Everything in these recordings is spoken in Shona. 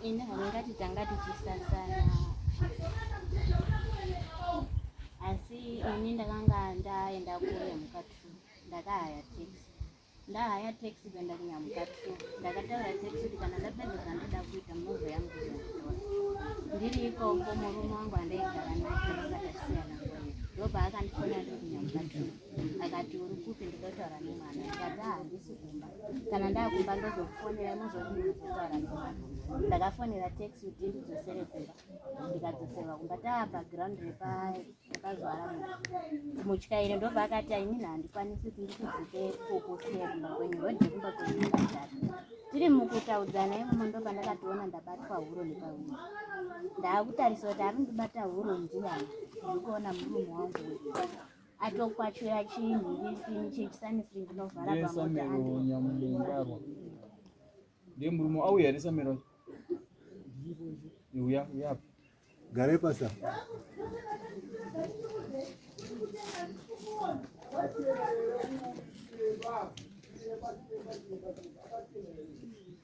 ini handingati tanga tichisasana asi ini ndakanga ndaenda kunyamuka t ndakahaya tax ndahaya tax kuenda kunyamuka t ndakataura tax kuti kana ndapedza zvandoda kuita munozo yangu ndiri ikoko murume wangu andaigara naye ndakasiyana ndopaakandifona ndiri kunyamuka t akati uri kupi ndinotaura nemwana ndikati ah, handisi kumba kana ndakumba ndozokufonera imozokuzotaura nemwana ndakafonera taxi kuti ndidzosere kumba ndikadzoserwa kumba taa background repazuara mutyairi ndobva akati ainini handikwanisi kuti ndikudzike kukusira kumba kwenyu rodhi kumba kwenyu ndikadhaka tiri mukutaudzana imomo ndoba ndakatoona ndabatwa huro nepahuro ndaakutarisa kuti ari ndibata huro ndiyani ndikuona murume wangu wekuaa atokwachura chinhu chii chechisanisiri ndinovhara pamotaanyamugarwa ndiye murume auya here samiro uya uyapi gare pasa Thank you.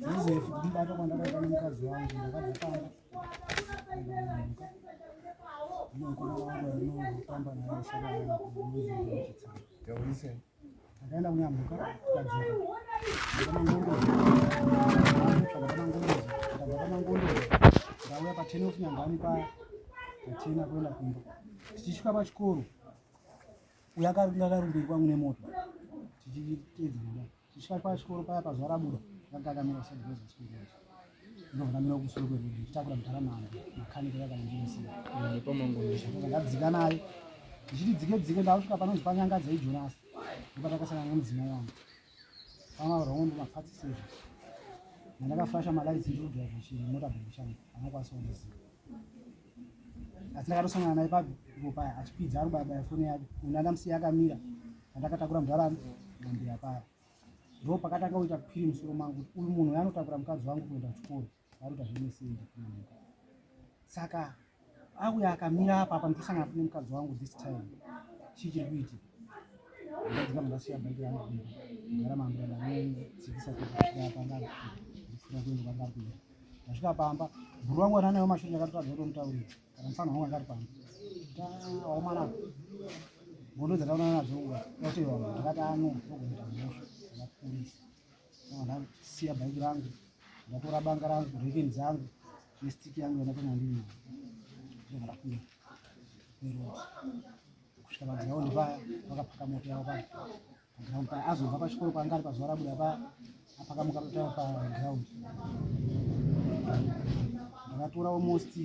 Joseph ndibata kwandakaita nemukadzi wangu ndakazofamba ndinokuona wangu anofamba naye shaka yangu Akaenda kunyamuka tikadzoka. Ndauya pa 10 of nyangani paya tachena kuenda kumba. Tichisvika pachikoro uya akanga akarumbirwa kwangu nemoto tichiteedza mudai. Tichisvika pachikoro paya pazuva rabuda akanga akamira kusati kwezasiku. ndovunamira kusoro kwedu ndichitakura mudhara manga makanika yakandiisandadzika naye ndichiti dzike dzike ndakusvika panonzi panyanga dzaijonasi ndopatakasangana nemudzimai wangu pamavarongo ndomapatsisezvo mandakafasha malaisi ndikudriva chimota bhekishangu anokwanisa kundiziva asi ndakatosangana naye pago paya achipidza ari kubayabaya foni yake unadamusiya akamira andakatakura mudhara mambiya paya ndo pakatanga kuita kuphiri musoro mangu kuti uyu munhu uyo anotakura mukadzi wangu kuenda kuchikoro varuta zvinesende kunamuka saka auya akamira apa apa ndosangana fune mukadzi wangu this time chii chiri kuitika ndadzika mudasiya bhaiki rangu kumba ndagara maambira ndamene dzikisa kukusvika apa ndakuenda kwandapinda ndasvika pamba bhuru wangu wananewo mashoni ndakatotaza kutomutaurira Mfano wangu akari pano. Taomana. Bodo dzataona nadzo uwa. Yote yo ndakati ano ndokuita mosho. Ndakurisa. Nda siya bike rangu. Ndatora banga rangu, rekin zangu. Ne stick yangu yona kona ndini. Ndokuita ndakuya. Pero. Kushika banga yao ndibaya. Vakapaka moto yao pano. ground pa azobva pachikoro paanga ari pazuva rabuda pa apakamuka kutaura paground ndakatora almost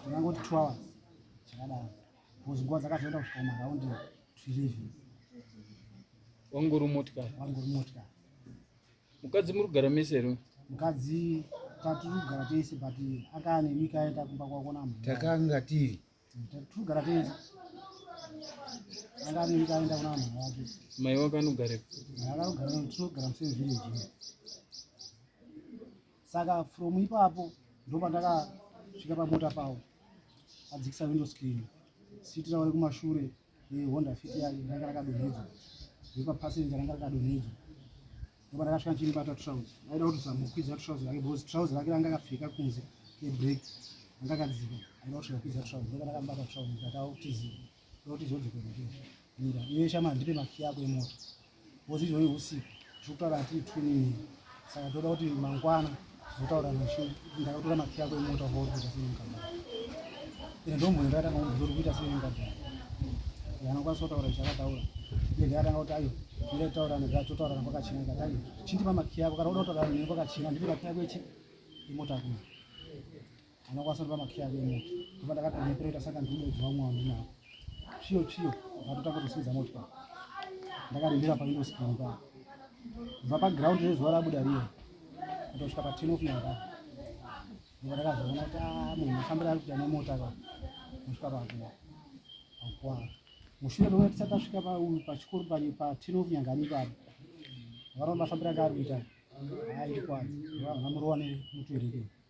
ndingangoti two hours chakadaro bcause nguva dzakazoenda kusvika maraundi tweleven wangori motikari wangori motikari mukadzi muri kugara mese here mukadzi tatiri kugara tese but akaa nemika aenda kumba kwakona takanga tiri Togara tese. Anga anenge aenda kuna vanhu vake. Mai wako anogarepo? Mai wako anogara tinogara musame village. Saka from ipapo ndopandakasvika pamota pawo adzikisa window screen sitira uri kumashure Honda Fit yayo ranga rakadonhedzwa ndipo passenger ranga rakadonhedzwa ndipo rakasvika ndichimubata trouse aida kutozamukwidza trouse rake because trouse rake ranga akapfeka kunze kebreak ranga akadzika aida kusvika kwidza trouse ndipo rakamubata trouse ndikatawo kutiziva ndokuti zvodzokera mira iwe shama ndipe makiya ako emota ngozi izvoi usiku zvokutaura hatii twinini saka toda kuti mangwana zotaura nashu ndakatora makiya ako emota kwauri kuita sei mukadhara ende ndomboni ndakatanga kuti zori kuita sei mukadhara anokwanisa kutaura zvichakataura ende ndakatanga kuti ayo ida kutaura nega totaurana kwakachena ikati ayo chindipa makiya ako kana uda kutaurana neni kwakachena ndipe makiya ako echi imota ako anokwanisa kupa makiya ake emoto kuva ndakatonepereta saka ndiudoji vamwe vanhu navo chiyo chiyo vatotanga kutosimudza motya ndakarindira paindo screen pa kubva paground rezuva rabuda riye kutosvika paten of nyanga ndiva ndakazoona kuti ah, munhu afambira ari kuita nemota ka kusvika pakuwa akuwa mushure mewe tisati tasvika pachikoro paten of nyanga nipapo varova mafambira anga ari kuita aindikwadza vamurova nemutuirikei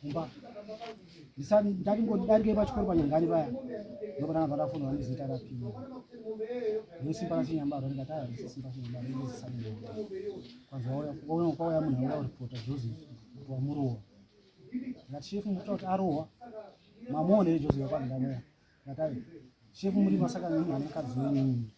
kumba ndisati ndati ngondidarike pachikoro panyangari paya ndokutanga kwatafonera ndizita rapima ndosimba rachinyambaro ndikati aya ndisesimba chinyambaro ndizisati kwanzwa kwauya munhu auya kuripota joseph kuti wamurowa ndikati shefu mukuta kuti arohwa mamuone joseph kwandidamea ndikati ayi shefu muri masaka nemukadzi wenyu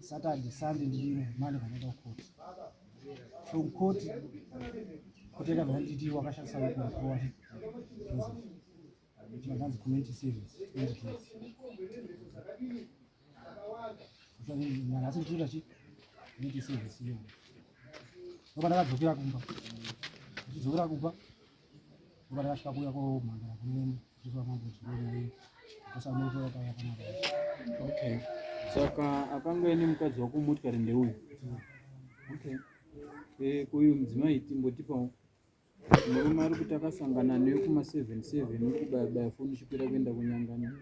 Saturday, Sunday ndiri mani vanoenda kukoti. From koti koteka vanditi wakashandisa kuwa vakanzi community service asi ndichiita chi community service iyo ndoba ndakadzokera kumba ndichidzokera kumba ndoba ndakasvika kuya komhandara kunene Okay. Saka akangoeni mukadzi wako motikari ndeuyu. Okay. Eh, kuyu mudzimai timbotipawo. Murume ari kuti akasangana newe kuma 77 uri kubaya baya foni chikwira kuenda kunyangana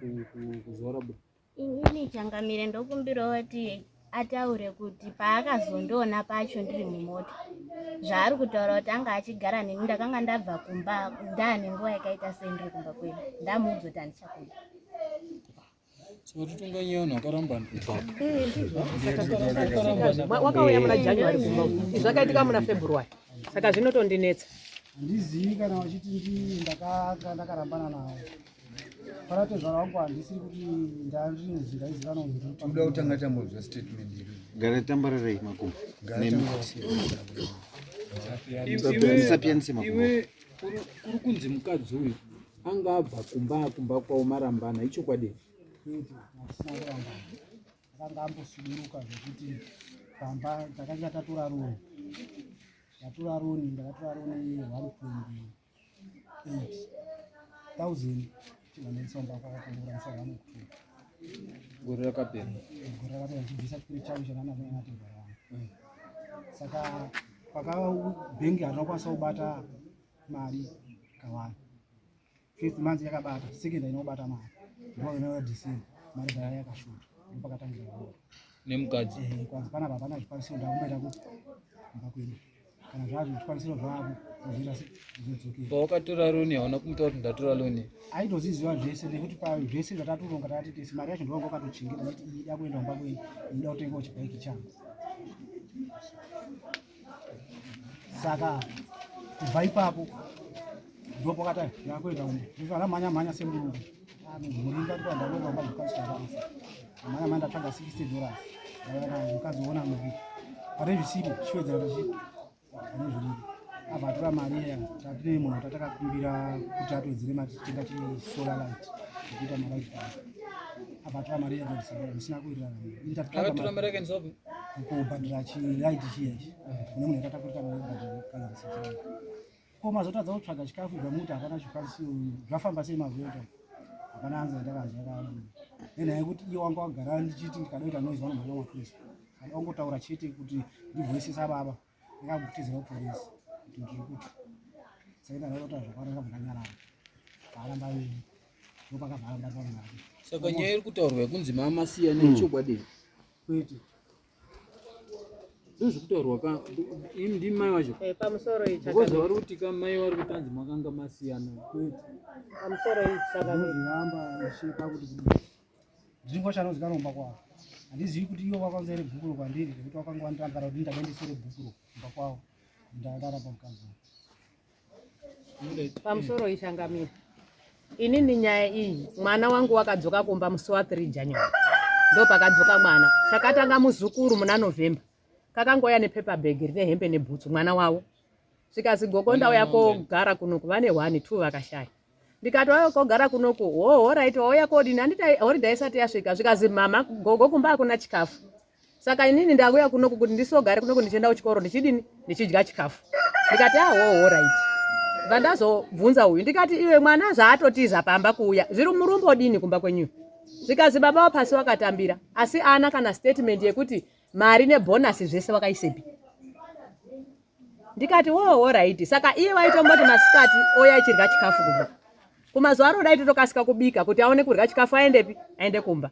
kuzorabura. Inini changamire ndokumbirawo kuti ataure kuti paakazondiona pacho ndiri mumota zvaari kutaura kuti anga achigara neni ndakanga ndabva kumba ndaane nguva yakaita sendiri kumba kwedu ndamuudza kuti handichakuda wakauya muna january kumba zvakaitika muna february saka zvinotondinetsa handizivi kana vachiti ndii ndakarambana navo paratezvara wangu handisiri kuti ndazvinzi ndaizikana kuda kutanga tambozva statement iri gara tambararei makumbo nemisapiyanise makumbo kuri kunzi mukadzi uyu anga abva kumba kumba kwavo marambana ichokwadi akanga ambosuduruka zvekuti pamba takanga tatora roni ndatora roni ndakatora roni one twenty gore rakapera gore rakapera chibvisa chipiri chavo chananaanatogara mm. saka paka bhengi hatinokwanisa kubata mari kawani first month yakabata second inobata mari ndo inova december mari daya yakashuta ndo pakatangira nemukadzi eh, kwanzi panapa hapana zvikwanisiro ndakumboita kuti mba kwedu kana zvazvo zvikwanisiro zvavo zvozoita zvizodzokera pawakatora loni hauna kumuta kuti ndatora loni aitoziziva zvese nekuti pa zvese zvatatoronga takati tese mari yacho ndovanga wakatochengeta nekuti iyi ida kuenda kumba kwenyu inoda kutengawo chibhaiki changu saka kubva ipapo ndopakata ndakuenda kumba ndizvo anamhanya mhanya semurungu murimba kuti vanhu vanova mazvikazvitavarisa amai amai ndatsvaga 60 dollars mukazoona muvi pane zvisipo chiwedzera zvichipo pane zviripo abva atora mari iya tatine munhu tatakakumbira kuti atowedzere mari tichitenga chisolar light zvokuita malight pa abva atora mari iya ndozisabora zvisina kuwirirana kubhadhira chilight chiya ichi kune munhu yatatakurita mari kubhadhira kazarisa chilight Ko mazotadza kutsvaga chikafu ibva muti hapana zvikwanisiro zvafamba sei mazota hapana anza ndakazva kabu nenhaya yekuti iye wanga wagara ndichiti ndikada kuita noise vanomhanya mapurisa ada wangotaura chete kuti ndivhoisisa baba ndakakutizira kupurisa kuti ndiri kuti saka ndakazota zvakwana ndakabva ndanyarara vaaramba veni ndopakabva aramba zvamwari saka nyaya iri kutaurwa yekunzi maamasiya nechokwadi kwete ndozvikutaurwa ka ini ndimi mai wacho Eh, pamusoro iyi because chakamira. vari kuti ka mai vari kutanzi makanga masiyana Pamusoro iyi chakamira. zviramba zvichipa kuti kudii ndingo chanonzi kanomba kwavo handizivi kuti ivo vakanza iri bhukuro kwandiri nekuti vakanga vanditambara kuti ndindabe ndisire bhukuro kumba kwavo ndarara pamukadzi wangu. pamusoro ishangamira ini ni nyaya iyi mwana wangu wakadzoka kumba musi wa 3 january ndo pakadzoka mwana chakatanga muzukuru muna november kakangouya nepaper bag rine hembe nebhutsu mwana wavo zvikazi gogo ndauya kogara kuno kuva ne one two vakashaya ndikati wave kogara kunoku hoho right wauya kodini handiti horidha isati yasvika zvikazi mama gogo kumba hakuna chikafu saka inini ndakuya kunoku kuti ndisogare kunoku ndichienda kuchikoro ndichidini ndichidya chikafu ndikati ahoho ah, right bva ndazobvunza uyu ndikati iwe mwana zvaatotiza pamba kuuya zviri murumbo dini kumba kwenyuyo zvikazi baba wapasi wakatambira asi ana kana statement yekuti mari nebhonasi zvese wakaisepi ndikati woo horaiti saka iye waitomboti masikati oya achirya chikafu kumba kumazuva ano dai totokasika kubika kuti aone kurya chikafu aendepi aende kumba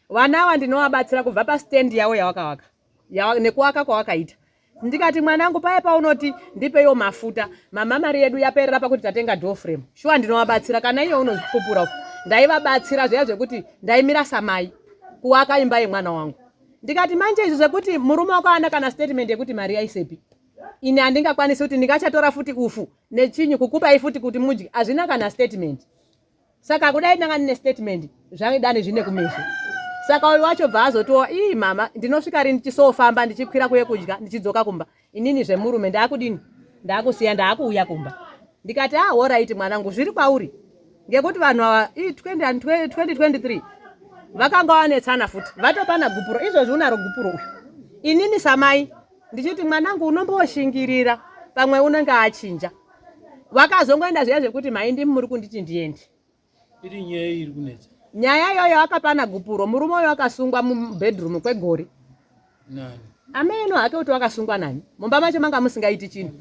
vana ava ndinovabatsira kubva pastendi yavo yawakawaka nekuwaka kwawakaita ndikati mwanangu paye paunoti ndipeyo mafuta mama mari yedu yaperera pakuti tatenga doframe shuwa ndinovabatsira kana iye unozvipupura ndaivabatsira zviya zvekuti ndaimira samai kuwaka imba yemwana wangu ndikati manje izvi zvekuti murume wako ana kana statement yekuti mari yaisepi ini handingakwanisi kuti ndingachatora futi ufu nechinyu kukupai futi kuti mudye hazvina kana statement saka kudai ndanga ndine statement zvaidani zvine kumeso saka uyu wacho bva azotiwo ii mama ndinosvika ri ndichisofamba ndichikwira kuye kudya ndichidzoka kumba Inini zvemurume ndakudini ndakusiya ndakuuya kumba ndikati ah horaiti mwanangu zviri kwauri ngekuti vanhu ava 2023 vakanga wanetsana futi vatopana gupuro izvozvi unaro gupuro uyu inini samai ndichiti mwanangu unomboshingirira pamwe unenge achinja vakazongoenda zviya zvekuti maindi muri kunditi ndiende Iri nyaya iri kunetsa. Nyaya iyoyo akapana gupuro murume uyo akasungwa mubedroom kwegore. Nani? Ameno hake kuti wakasungwa nani? Mumba macho manga musingaiti chinhu.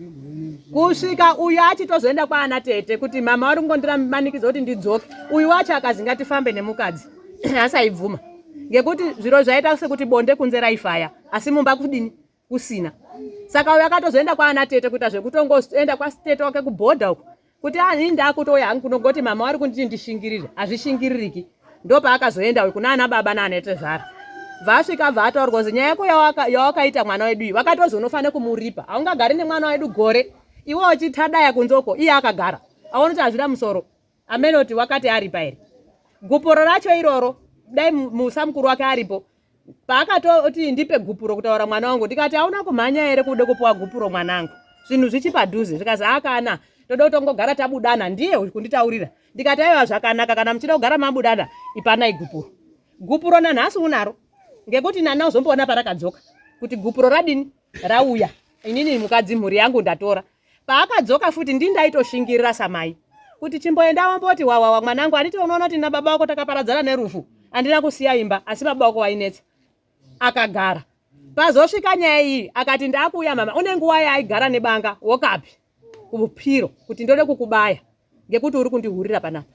Kusvika uyu achitozoenda kwaana tete kuti mama vari kungondiranikidza kuti ndidzoke. Uyu wacho akazi ngatifambe nemukadzi. Asaibvuma. Ngekuti zviro zvaita sekuti bonde kunze raifaya asi mumba kudini? kusina saka uyo akatozoenda kwaana tete kuita zvekutongoenda kwatete wake kubhodha uko kuti ani ah, ndakutouya hangu kunongoti mama wari kunditi ndishingirire hazvishingiririki ndo paakazoenda uyo kunaana baba naanetezvara vasvika abva ataurwa kunzi nyaya yako yawakaita mwana wedu iyi wakatozonofanira kumuripa haungagari nemwana wedu gore iwe wachitadaya kunzoko iye akagara aonoti hazvina musoro amenoti wakati aripa here gupuro racho iroro dai musa mukuru wake aripo paakatoti ndipe gupuro kutaura mwana wangu ndikati auna kumhanya here kuda kupiwa gupuro mwanangu zvinhu zvichipadhuze zvikazi akana toda kutongogara tabudana ndiye kunditaurira ndikati aiwa zvakanaka kana muchida kugara mabudana ipanai gupuro gupuro nanhasi unaro ngekuti nani uzomboona parakadzoka kuti gupuro radini rauya inini mukadzi mhuri yangu ndatora Paakadzoka futi ndini ndaitoshingirira samai kuti chimboenda womboti wawawa mwanangu anditi unoona kuti na baba wako takaparadzana nerufu andina kusiya imba asi baba wako wainetsa akagara pazosvika nyaya iyi akati ndakuuya mama une nguva yaaigara nebanga wokapi kupiro kuti ndode kukubaya ngekuti uri kundihurira panapa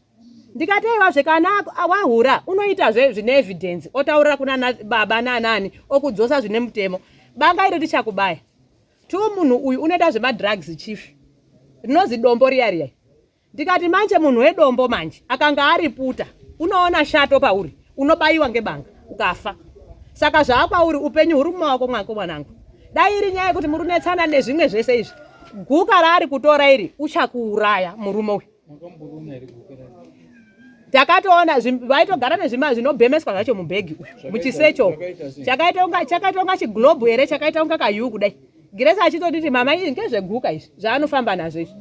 ndikateiwa zve kana wahura unoitazve zvine evidence otaurira kunana baba nanani okudzosa zvine mutemo banga iri richakubaya tu munhu uyu unoita zvemadrugs chief rinozi dombo riya riya ndikati manje munhu wedombo manje akanga ariputa unoona shato pauri unobayiwa ngebanga ukafa saka zvaakwauri upenyu huri mumaoko mwako mwanangu dai iri nyaya yekuti muri kunetsana nezvimwe zvese izvi guka raari kutora iri uchakuuraya murume uyu takatoona vaitogara nezvima zvinobhemeswa zvacho mubhegi uyu muchisecho chakaita unga chiglobe here chakaita unga kayuu kudai giresi achitotiti mama ii ngezveguka izvi zvaanofamba nazvo izvi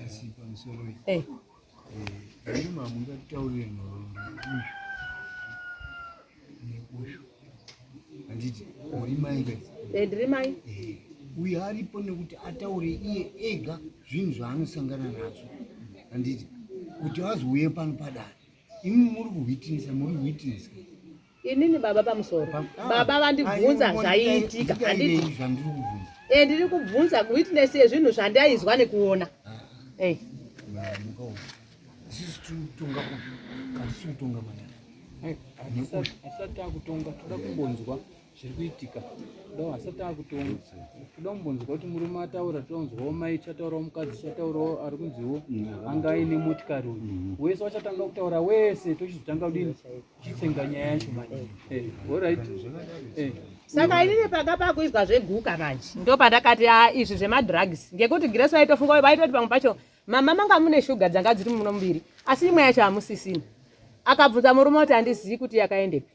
asi pamusoro eh. eh, ino mamungataurire nhoroondo nekushu handiti uri mai ka eh, ndiri mai uyo aripo nekuti ataure iye ega zvinhu zvaanosangana nazvo handiti kuti vazouye pano padare imi muri kuhwitinisa muri kuhwitinisa Inini baba pamusoro. Ah, baba vandibvunza zvaiitika. Handiti. Eh ndiri kubvunza witness yezvinhu zvandaizwa nekuona. Ah. Eh. Sisi tutonga kupi? Kasi tutonga mwana. Eh, asati akutonga toda kumbonzwa zviri kuitika. Kudawo asati akutonga. Toda kumbonzwa kuti murume ataura tonzwawo mai chataurawo mukadzi chataurawo ari kunziwo mm. anga aine motikari uyu. Mm. Wese wachatanga kutaura wese tochizotanga kudini? chitsenga nyaya yacho manje eh, alright eh. saka inini panga pakuizwa zveguka manje ndo pandakati a ah, izvi zvemadrugs ngekuti grace vaitofunga vaitoti pamwe pacho mama manga mune shuga dzanga dziri muno muviri asi imwe yacho hamusisina akabvunza murume kuti handizivi kuti yakaendepi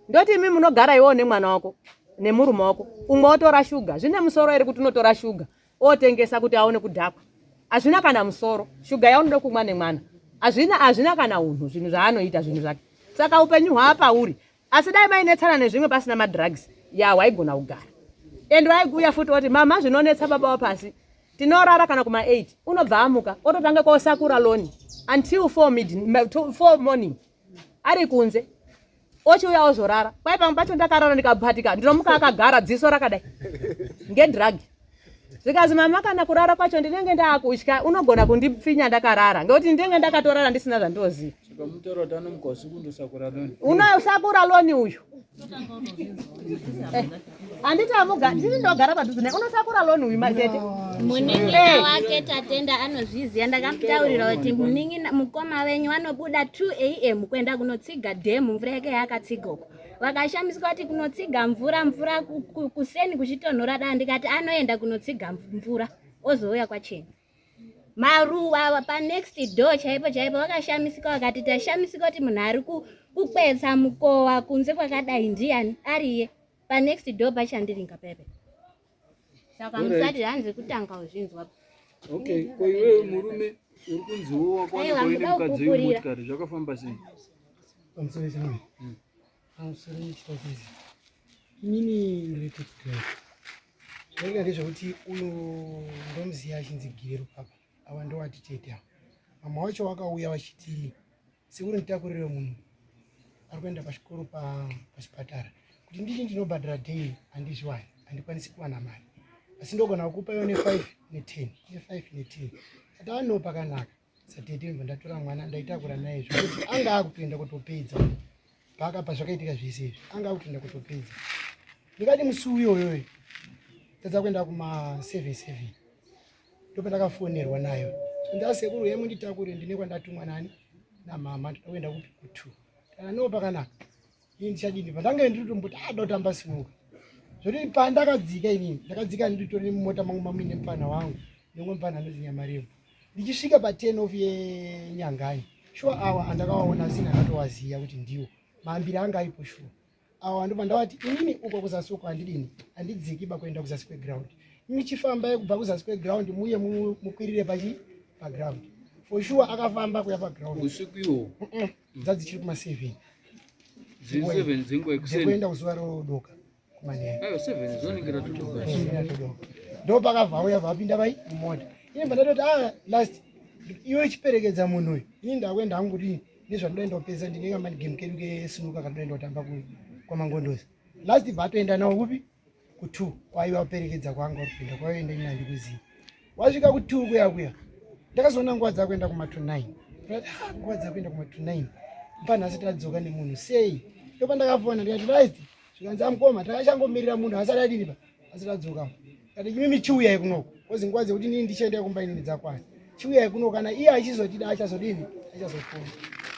ndoti imi munogara iwowo nemwana wako nemurume wako umwe otora shuga zvine musoro here kuti unotora shuga otengesa kuti aone kudhakwa hazvina kana musoro shuga yaunoda kumwa nemwana hazvina hazvina kana unhu zvinhu zvaanoita zvinhu zvake saka upenyu hwaapauri asi dai mainetsana nezvimwe pasina madrugs ya waigona kugara and waiguya futi oti mama zvinonetsa baba wapasi tinorara kana kuma 8 unobva amuka ototanga kosakura loni until 4 morning ari kunze ochiuya ozorara kwai pamwe pacho ndakarara ndikabhatika ndinomuka akagara dziso rakadai ngedragi zvikazi mama kana kurara kwacho ndinenge ndaakutya unogona kundipfinya ndakarara ngekuti ndinenge ndakatorara ndisina zvandoziva unosakura loni uyu eh. handiti amugara ndini ndogara padhuze naye unosakura loni uyu matete munin'ina wake tatenda anozviziva ndakamutaurira kuti munin'ina mukoma venyu vanobuda 2 am kuenda kunotsiga dhemu mvura yake yaakatsiga uko vakashamiswa kuti kunotsiga mvura mvura kuseni kuchitonhora da ndikati anoenda kunotsiga mvura ozouya kwachena maruwa awa panext door chaipo chaipo vakashamisika vakati tashamisika kuti munhu ari kukwetsa mukowa kunze kwakadai ndiyani ariye panext door pachandiringa pepe saka musati hanzi kutanga uzvinzwa okay ko iwewe murume uri kunziwo wakwanakoine mukadzi wemotikari zvakafamba sei pamusoro chimwe hmm. pamusoro chitokezi inini ndiri kuchitoi Zvainga ndezvekuti uyu ndomuziya achinzi Gero papa ava ndowati tete ava. Mama wacho wakauya vachiti sekuri nditakurire munhu ari kuenda pachikoro pachipatara kuti ndini ndinobhadhara daily handizviwani handikwanisi kuwana mari asi ndogona kukupa yo ne5 ne10 ne5 ne10 ati ano pakanaka satete ndibva ndatora mwana ndaitakura naye zvekuti anga akutoenda kutopedza paka pazvakaitika zvese izvi anga akutoenda kutopedza ndikati musi uyoyoyo tadza kuenda kumaseven seven ndopandakafonerwa nayo ndasekuru yemu nditakure ndine kwandatumwa nani namama ndinokuenda kupi kutu kana noo pakanaka ini ndichadini pandange ndiri tomboti ada ah, kutamba simuka zvoti pandakadzika inini ndakadzika nditori mumota mangu mamuine mupfanha wangu nemwe mupfanha anoti nyamarembo ndichisvika paten of yenyangai shuwa awa andakawaona asina akatowaziva kuti ndiwo mahambiri anga aripo shuwa awa ndobva ndavati inini uko kuzasi uko handidini handidziki ba kuenda kuzasi kweground michifamba yekubva kuzasi kweground muye mukwirire pachi paground for sure akafamba kuya paground usiku iwo Dzadzichiri kuma 7. Dziri dzenguva yekuseni. Dzekuenda kuzuva rodoka kumanheru. Ayo 7 dzoningirira todoka. Ndo pakabva auya vapinda vai mumota. Ini pandatoti ah last iwe chiperekedza munhu uyu. Ini ndakuenda hangu kuti nezvandoenda kupedza ndinenge mani game kedu kesimuka kandoenda kutamba kwamangondozi. Last bva atoenda nawo kupi? kutwo kwaiva kuperekedza kwanga kupinda kwaienda ini handikuziva wasvika kutwo kuya kuya ndakazoona nguva dzakuenda kumatwo 9 ah, nguva dzakuenda kumatwo 9 mpanhasi tadzoka nemunhu sei ndopa ndakafona ndikati right zvikanzi amukoma takachangomirira munhu asati adini pa asati adzoka kati imi michiuyai kunoko kozi nguva dzekuti nini ndichaenda kumba inini dzakwana chiuyai kuno kana iye achizotida achazodini achazofona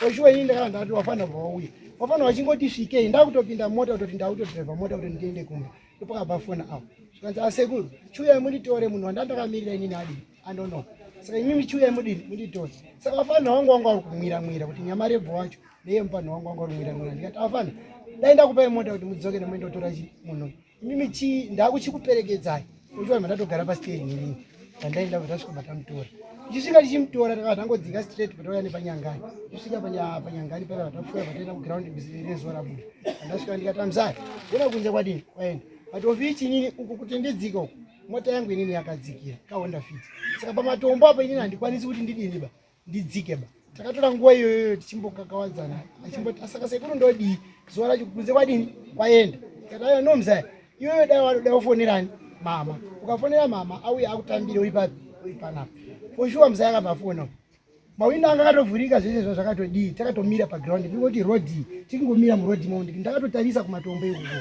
oshuwa ini ndakana ndati wafanira kubva wauya wafanira wachingoti svikei ndakutopinda mota kutoti ndakutodriva mota kutoti ndiende kumba ndopakabva fona apo zvikanzi asekuru ah, chiuyai munditore munhu wandandakamirira inini adii andonoka saka imimi chiuyai mudini munditore saka wafanira wangu wangu ari kumwira mwira kuti nyama rebvo wacho neye mufanira wangu wangu ari kumwira mwira ndikati afanira dai ndakupai mota kuti mudzoke nemoenda kutora chi munhu uyu Mimi chi ndakuchikuperekedzai. Unjwa mandatogara pa steering ini. Tandaenda kutasvika matamutora. Ndisvika ndichimutora takabva tangodzinga straight patauya nepanyangani. Ndisvika panyangani paya patafuya pataenda ku ground rezuva rabuda. Ndasvika ndikatamzai. Ndina kunze kwadini kwaenda. But ofichi inini uku kutendedzika uku. Mota yangu inini yakadzikira ka Honda Fit. Saka pamatombo apa inini handikwanisi kuti ndidini ba. ndidzike ba takatora nguva iyoyoyo tichimbokakawadzana achimboti asaka sekuru ndodii zuva racho kunze kwadini kwaenda kataiya no mzaya iyoyo dai wanoda kufonerani mama ukafonera mama auya akutambire uri papi uri panapa for sure mzaya akabva afona mawindo anga akatovhurika zvese zva zvakatodii takatomira paground ndingoti rodi tikingomira murodi mondi ndakatotarisa kumatombo ikuko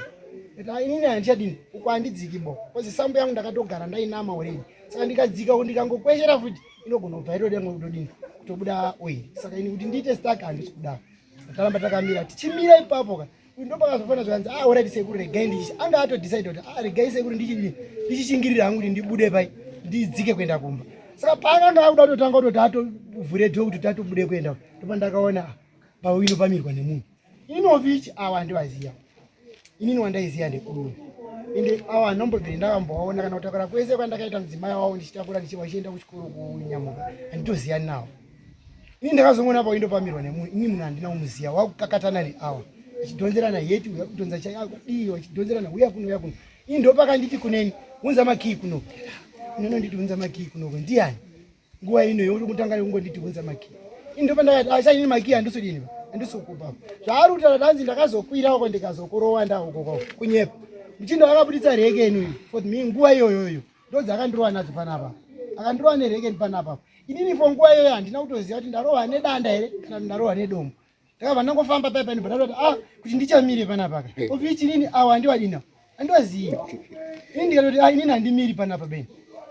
kaa inini handichadini uko handidziki bo kozi sambo yangu ndakatogara ndainama uredi saka ndikadzika kundikangokweshera futi inogona kubva itoda mwe kutodini kutobuda oil saka ini kuti ndiite stark handisi kuda takaramba takamira tichimira ipapo ka uyu ndopakazofana zvikanzi ah orit sekuru regai ndichi anga atodecide kuti ah regai sekuru ndichishingirira hangu kuti ndibude pai ndidzike kuenda kumba saka paakanga akuda kutotanga kutoti atovhure dho kuti tatobude kuenda ndopa ndakaona ah, pauino pamirwa nemunhu Inovich awa handivaziva inini wandaiziva ndekudumu ende awa hanombobviri ndavambovaona kana kutakura kwese kwandakaita mudzimai wavo ndichitakura ndichiva chienda kuchikoro kunyamuka handitoziyani navo ini ndakazongoona paindopamirwa nemunhu ini munhu handina kumuziva wakukakatana neawa achidhonzerana heti uya kudhonza chaiakudii achidhonzerana uya kuno uya kuno ini ndopakanditi kuneni unza makii kuno inononditi unza makii kunoko ndiani nguva ino yeuri kutanga nekungondidhibhunza maki ini ndopandakati achaini maki handisodini handisokubva zvaari kutaura tanzi ndakazokwirako ndikazokurowa ndahokoko kunyepa muchindo akabuditsa rekeni for me nguva iyoyoyo ndodzi akandirowa nadzo panapa akandirowa nerekeni panapa inini fo nguva iyoyo handina kutoziva kuti ndarowa nedanda here kana kuti ndarowa nedombo ndakabva ndangofamba paya pani bhadhara kuti ah kuti ndichamire panapa ka eh. ofi chinini awa handiwadina handiwazivi ini ndikatoti ah inini handimiri panapa beni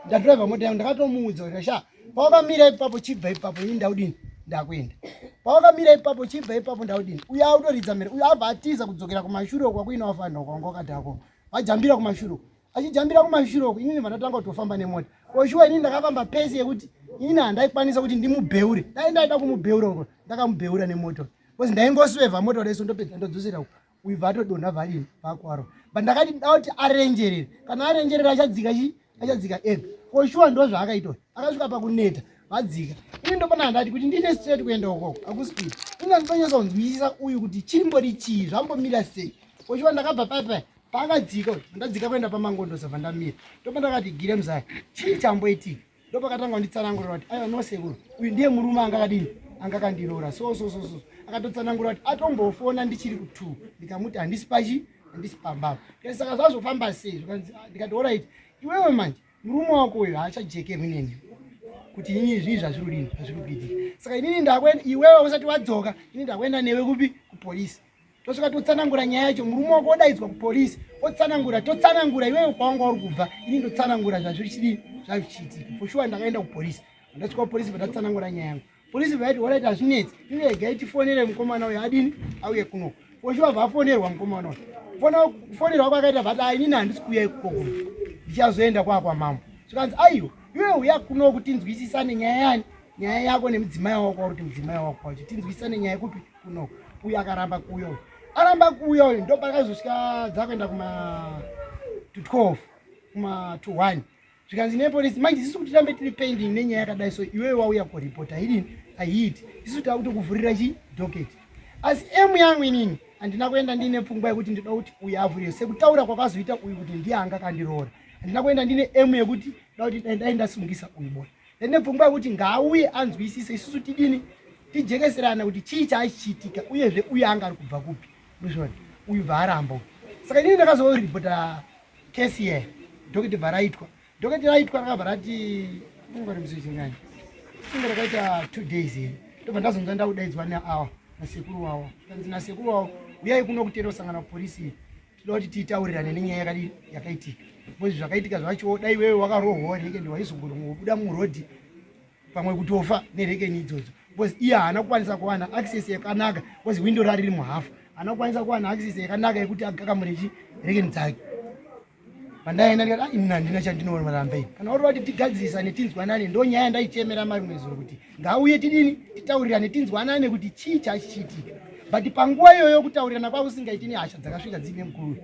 ndadriva mota yangu ndakatomuudza kuti sha pawakamira ipapo chibva ipapo ini ndaudini ndakuenda pawakamira ipapo chibva ipapo ndaudini uye autoridza mhere uye abva atiza kudzokera kumashure kwakuina wafanira kwanga wakadhako vajambira kumashure achijambira kumashure uku inini vandatanga kutofamba nemota oshuwa inini ndakafamba pesi yekuti inini handaikwanisa kuti ndimubheure dai ndaida kumubheura uko ndakamubheura nemota bcause ndaingoswevha mota reso ndopedza ndodzosera uko uyu vatodonha varini vakwaro but ndakati ndauti arenjerere kana arenjerere achadzika chi achadzika eg oshuwa ndo zvaakaita akasvika pakuneta vadzika ini ndopana handati kuti ndiine straight kuenda ukoko akuspeed ini andinonyatsa kunzwisisa uyu kuti chimbori chii zvambomira sei oshuwa ndakabva paipai paakadzika uyu ndadzika kuenda pamangondo sabva ndamira ndopa ndakati gire muzaya chii chamboitika ndopakatanga kunditsanangurira kuti aiwa nosekuru uyu ndiye murume anga akadini anga akandiroora so so so so akatotsanangura kuti atombofona ndichiri kutu ndikamuti handisi pachi handisi pambava kati saka zvazofamba sei zvikanzi ah, ndikati orit iwewe manje murume wako uyo haachajekerwi neni kuti inini zvii zvazviri udini zvazviri kuitika saka inini ndakuenda iwewe usati wadzoka inini ndakuenda newe kupi kupolisi tosvika totsanangura nyaya yacho murume wako odaidzwa kupolisi otsanangura totsanangura iwewe kwawanga uri kubva ini ndotsanangura zvazviri chidii zvazvichiitika for sure ndakaenda kupolisi ndasvika kupolisi vatatsanangura nyaya yangu polisi vaiti waraiti hazvinetsi iregai tifonere mukomana uyo adini auye kuno for sure vafonerwa mukomana uyo kufonerwa kwakaita vati a inini handisi kuuya ikukoko ndichazoenda kwakwamambo zvikanzi aiwa iwewe uya kuno kuti tinzwisisane nyaya yani nyaya yako nemudzimai wako wakuti mudzimai wako wacho tinzwisisane nyaya kupi kuno uyo akaramba kuuya uyo aramba kuuya uyo ndo pakazosvika dzakuenda kuma to 12 kuma to 1 zvikanzi nepolisi manje isisu kuti rambe tiri pending nenyaya yakadai so iwewe wauya kuripota irini ahiiti isisu tava kutokuvhurira chi docket asi emu yangu inini handina kuenda ndiine pfungwa yekuti ndida kuti uyu avhurire sekutaura kwakazoita uyu kuti ndiye anga kandiroora handina kuenda ndiine emu yekuti da kuti dai ndasungisa uyu boy nepfungwa yekuti ngaauye anzwisise isusu tidini tijekeserana kuti chii chaachichiitika uyezve uye anga ari kubva kupi ndozvona uyu bvaaramba uyu saka inini ndakazoripota kesi ye dhoketi bvaraitwa dhoketi raitwa rakabva rati ungarimzichinyanya inge rakaita two days here ndobva ndazonza ndakudaidzwa neawa nasekuru wawo kanzi nasekuru wawo uyai kuno kuteera kusangana kupolisi Tinoda kuti titaurirane nenyaya yakadii yakaitika. Because zvakaitika zvacho dai wewe wakarohwa reke ndiwa izongobuda mu road pamwe kutofa nereke ni idzodzo. Because iye haana kukwanisa kuwana access yakanaka because window rari riri muhafu. Haana kukwanisa kuwana access yakanaka yekuti agakamure chi reke ni dzake. Pandaenda ndikati ah, ini handina chandinoona rambe. Kana uri kuti tigadzirisane tinzwanane ndonyaya ndaichemera mari mwezuro kuti ngauye tidini titaurirane tinzwanane kuti chii chachichiitika but panguva iyoyo kutaurirana kwavo usingaiti nehasha dzakasvika dziine mukuru uyu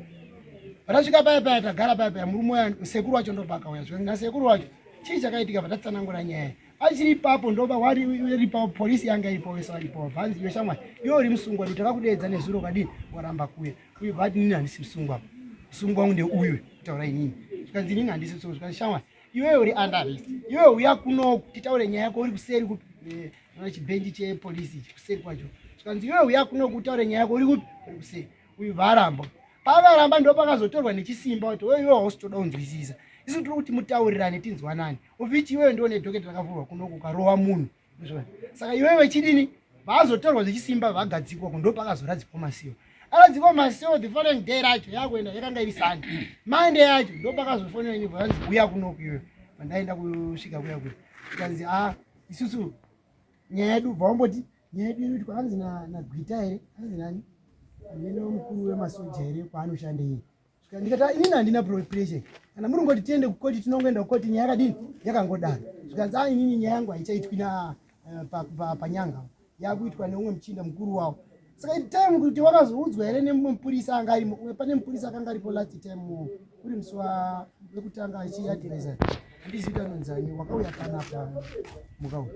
patasvika paya paya tagara paya paya murume uya sekuru wacho ndopakauya zvika nasekuru wacho chii chakaitika patatsanangura nyaya achiri ipapo ndoba wariiripapo polisi yanga iripo wese waripo vanzi iwe shamwari iwe uri musungwa kuti takakudeedza nezuro kwadii waramba kuya uye vati nini handisi musungwa musungwa wangu ndeuyu kutaura inini zvikanzi inini handisi musungwa zvikanzi shamwari Iwe uri under arrest. Iwe uya kuno titaure nyaya yako uri kuseri ku eh, na chibendi che police kuseri kwacho. Skanzi iwe uya kuno kutaure nyaya yako uri ku uri kuseri. Uyu varamba. Pava ramba ndo pakazotorwa nechisimba kuti wewe iwe hostoda unzwisisa. Isu tiri kuti mutaurirane tinzwanani. Uvichi iwe ndo ne docket rakavurwa kuno kukarova munhu. saka iwe vechidini vaazotorwa zvechisimba vagadzikwa ko ndopakazoradzikwa masiwo aradzikwa masiwo the following day racho yakuenda yakanga iri sande mande yacho ndopakazofonera nyuva yanzi uya kunoku iwe vandaenda kusvika kuya kuya ikanzi a ah, isusu nyaya yedu bva wamboti nyaya yedu iri kuti kwaanzi nagwita here anzi nani amene mukuru wemasoja here kwaanoshanda iyi ndikata inini handina pressure kana muri ngoti tiende kukoti tinongoenda kukoti nyaya yakadini yakangodaro zvikanzi a inini nyaya yangu haichaitwi na eh, panyanga yakuitwa neumwe muchinda mukuru wawo saka time kuti wakazoudzwa here nemumwe mupurisa anga arimo pane mupurisa akanga aripo last time uri musi wekutanga achiadvisa Handizivi kuti anonzani wakauya panapa mukau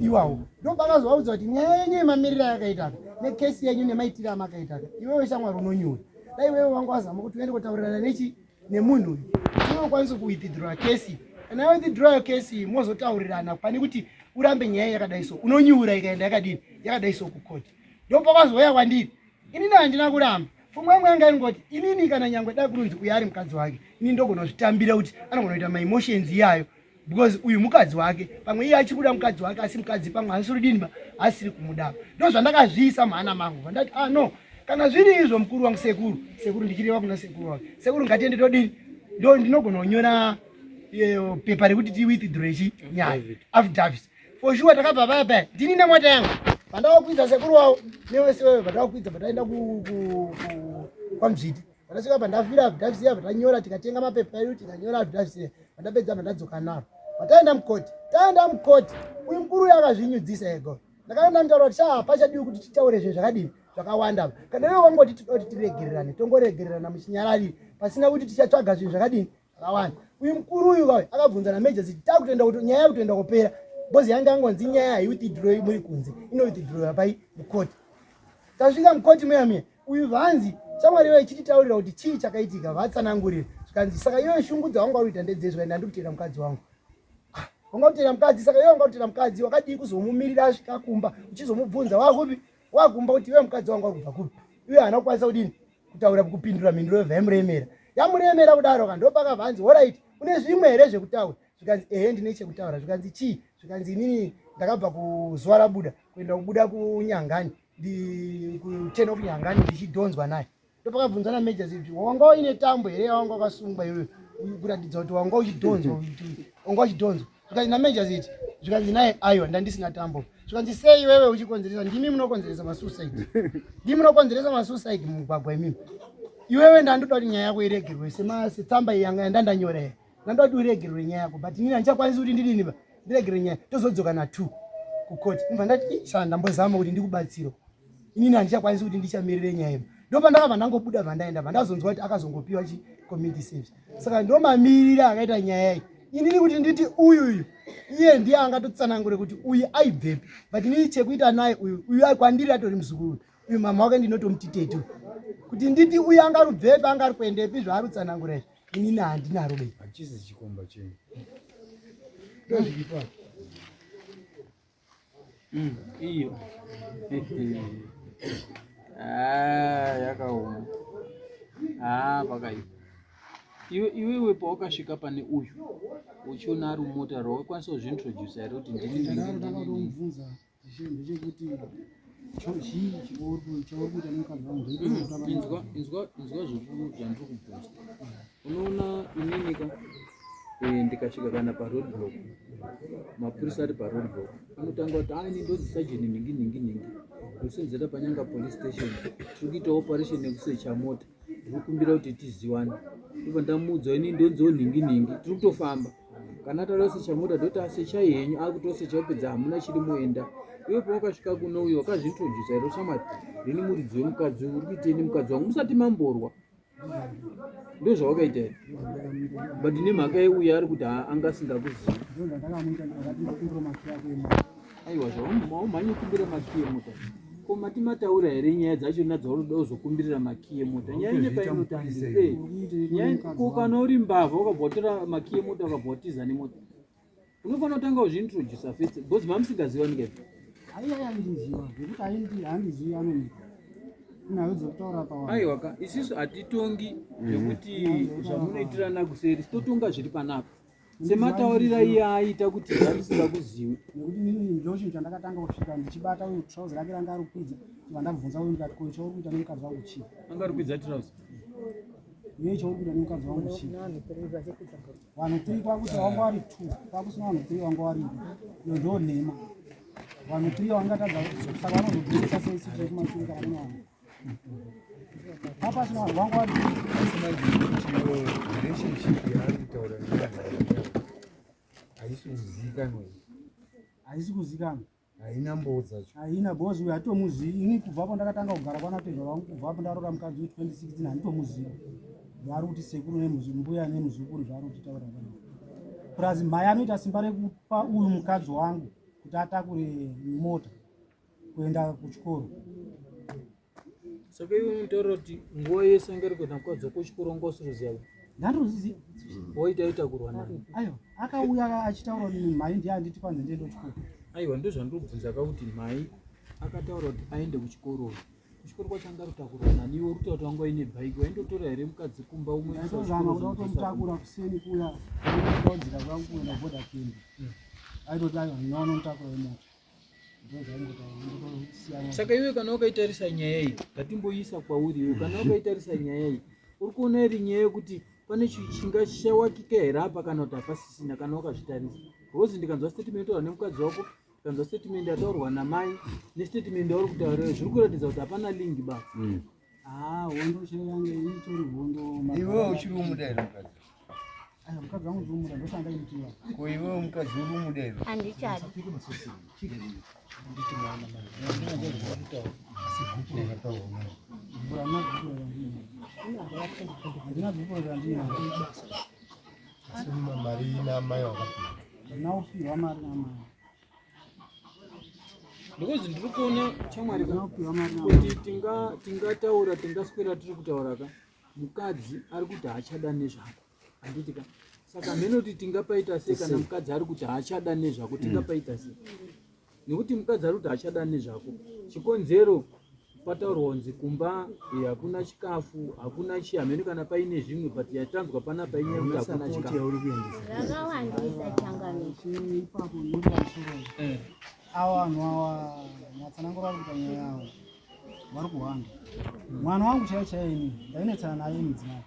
iwawo ndopakazovaudza kuti nyaya yenyu yemamiriro ayakaitaka nekesi yenyu nemaitiro amakaitaka iwewe shamwari unonyura dai iwewe wangu wazama kuti uende kutaurirana nechi nemunhu uyu unokwanisa kuwithidrowa kesi kana yawithidrowa kesi mozotaurirana pane kuti urambe nyaya yakadai so unonyura ikaenda yakadini yakadai so kukoti ndopakazouya kwandiri Ini na handina kuramba. Pfungwa yangu yanga ingoti inini kana nyangwe da kurunzi uya ari mukadzi wake. Ini ndogona kuzvitambira kuti anogona kuita ma emotions iyayo because uyu mukadzi wake pamwe iye achikuda mukadzi wake asi mukadzi pamwe haasiri dini ba asiri kumuda ndo zvandakazviisa mhana mangu vandati ah no kana zviri izvo mukuru wangu sekuru sekuru ndichireva kuna sekuru wake sekuru ngatiende todini ndo ndinogona kunyora eh, pepa rekuti ti withdraw chi nyaya affidavit For sure takabva paya paya. Ndini nemota yangu. Pandawakwidza sekuru wawo newese wewe pandawakwidza pataenda ku kwaMzviti. Pandasvika pandafira abdavisiya pandanyora tikatenga mapepa edu tikanyora abdavisiya pandapedza pandadzoka naro. Pataenda mukoti. Taenda mukoti. Uyu mkuru yakazvinyudzisa ego. Ndakaenda nditaura kuti shaa pachadiwi kuti titaure zvinhu zvakadini zvakawanda. Kana iwe wangoti tinoda kuti tiregererane tongoregererana muchinyarari pasina kuti tichatsvaga zvinhu zvakadini Akawani. Uyu mkuru uyu kawe akabvunza na major ziti takutenda kuti nyaya yakutenda kupera. Bozi yanga angonzi nyaya hai uti draw muri kunze. Ino uti draw yapai mukoti. Tasvika mukoti muya muya. Uyu vanzi shamwari wewe chiti taurira kuti chii chakaitika vatsanangurira. Zvikanzi saka iwe shungu dzawanga uita ndedzezvo ende andikutenda mukadzi wangu. Ah, wanga utenda mukadzi saka iwe wanga utenda mukadzi wakadii kuzomumirira asvika kumba uchizomubvunza wakupi wakumba kuti iwe mukadzi wangu wakubva kupi uye haana kukwanisa kudini kutaura kupindura mhinduro yobva yamuremera yamuremera kudaro ka ndopakabva anzi horaiti une zvimwe here zvekutaura zvikanzi ehe ndine chekutaura zvikanzi chii zvikanzi inini ndakabva kuzuva rabuda kuenda kubuda kunyangani kuten of nyangani ndichidhonzwa naye ndopakabvunza nameja zii kuti wanga uine tambo here yawanga wakasungwa iwe kuratidza kuti wanga uchidhonzwa wanga uchidhonzwa zvikanzi nameja ziti zvikanzi naye aiwa ndandisina tambo zvikanzi sei iwewe uchikonzeresa ndimi munokonzeresa masuicide ndimi munokonzeresa masuicide mumugwagwa imimi iwewe ndandoda kuti nyaya yako iregerwe setsamba yanga yandandanyora here Ndoda kuti uregerere nyaya yako but ini handichakwanisi kuti ndidini ba ndiregerere nyaya tozodzoka na two kucourt ndibva ndati shaa ndambozama kuti ndikubatsiro inini handichakwanisi kuti ndichamirire nyaya iba ndopa ndakabva ndangobuda bvandaenda bva ndazonzwa kuti akazongopiwa chi community service saka ndomamirira akaita nyaya iyi inini kuti nditi uyu uyu iye ndiye angatotsanangure kuti uyu aibvepi but inini chekuita naye uyu uyu kwandiri atori muzukuru uyu mama wake ndinotomuti tetu kuti nditi uyu angarubvepi angari kuendepi zvaari kutsanangura izvi Ini na handina rudo. Hachizi chikomba chenyu. Ndozviripa. Mm, iyo. Ah, yakaoma. Ah, pakaipa. Iwe iwewe pawakasvika pane uyu uchiona ari mumota rwawakwanisa kuzviintroducer here kuti ndini ndini ndini. unoona ininika eh, ndikasvika kana paroad block mapurisa ari paroad block anotanga kuti aine ndozi sajeni nhingi nhingi nhingi ndosinzira panyanga police station tiri kuita operation yekusecha mota ndokumbira kuti tiziwane ndobva ndamuudza ini ndonziwo nhingi nhingi tiri kutofamba kana atara kusecha mota ndoti asechai henyu akutosecha kupedza hamuna chiri moenda iwe pawakasvika kuno uyo wakazvintrodusa here ushamwari ndini muridzi wemukadzi uyu uri kuitei nemukadzi wangu musati mamborwa ndozvawakaita here but nemhaka yeuyo ari kuti haa anga asingakuzivi aiwa zvaumhanye kumbira makiye mota ko mati mataura here nyaya dzacho na dzaunoda uzokumbirira makiye mota nyaya ine painotangisa eh, ko kana uri mbavha ukabhotora makiye mota ukabhotiza nemota unofanira kutanga uzviintrodusa fese bcoz mamusingaziva nike aiwaka isisu hatitongi zvekuti zvamunoitirana kuseri sitotonga zviri panapa semataurira iye aita kuti zvatisika kuzivi nekuti nini ndochinhu chandakatanga kusvika ndichibata uyu trouser rake ranga ari kukwidza iva ndabvunza uyu ndikati ko chauri kuita nemukadzi wangu chii anga ari kukwidza trouser iye chauri kuita nemukadzi wangu chii vanhu three kwakuti wanga wari two kwakusina vanhu three wanga wari iyo ndoo nhema vanhu three wangatadza saka vanozobudisa sei sitrekumashure kana kune vanhu haisi kuzikanwa haisi kuzikanwa haina mboo dzacho haina bos uyo hatomuzivi ini kubvapo ndakatanga kugara kwana tezva vangu kubvapo ndarora mukadzi we 2016 handitomuzivi zvaari kuti sekuru nembuya nemuzukuru zvaari kuti taura vana plus mhai anoita simba rekupa uyu mukadzi wangu kuti atakure mota kuenda kuchikoro saka iwe munotaura kuti nguva yese anga ari kuenda mukadzi wako kuchikoro anga usiruziva ndandoziziva woita ita kurwa nani aiwa akauya achitaura kuti mhai ndiye anditi kwanzi ndiende kuchikoro aiwa ndozvandobvunza ka kuti mhai akataura kuti aende kuchikoro kuchikoro kwacho anga rutakurwa nani iwe ruta kuti wanga uine bhaiki waindotora here mukadzi kumba umwe aizozama kuda kutomutakura kuseni kuya aodzira kwangu kuenda boda kembi aitoti aiwa ndinoona mutakuro wemota saka iwe kana wakaitarisa nyaya iyi ngatimboiisa kwauri iwe kana wakaitarisa nyaya iyi uri kuona iri nyaya yekuti pane chinga chichawakika here apa kana kuti hapasisina kana wakazvitarisa bcause ndikanzwa statement taura nemukadzi wako ndikanzwa statement yataurwa namai nestatement yauri kutaura zviri kuratidza kuti hapana lingi ba mm. Ah, hondo chaiyo yanga itori hondo. Iwe uchiri umuda here mukadzi? Ah, mukadzi wangu ndiri umuda ndosanga ndaimutiva. Ko iwe mukadzi uri umuda here? Handichadi. Nditi mwana mwana. Handina bhuku randina. Asi mari ina amai wakapihwa. Ndina kupihwa mari amai. because ndiri kuona chamwari kuti tingataura tingaswera tiri kutaura ka mukadzi ari kuti haachada nezvako handiti ka saka mhene kuti tingapaita sei kana mukadzi ari kuti haachada nezvako tingapaita sei nekuti mukadzi ari kuti haachada nezvako chikonzero Pataurwa kunzi kumba eh, hakuna chikafu, hakuna chii, hameno kana paine zvimwe but yatanzwa panapa inyaya yekuti hakuna Support chikafu. yauri kuendesa. Zvakawandisa changamire. ipapo noda musoro Eh. awa vanhu awa matsanangura vari kuita nyaya yavo vari kuhwanda mwana wangu chaiye chaiye ini ndainetsana naye mudzimai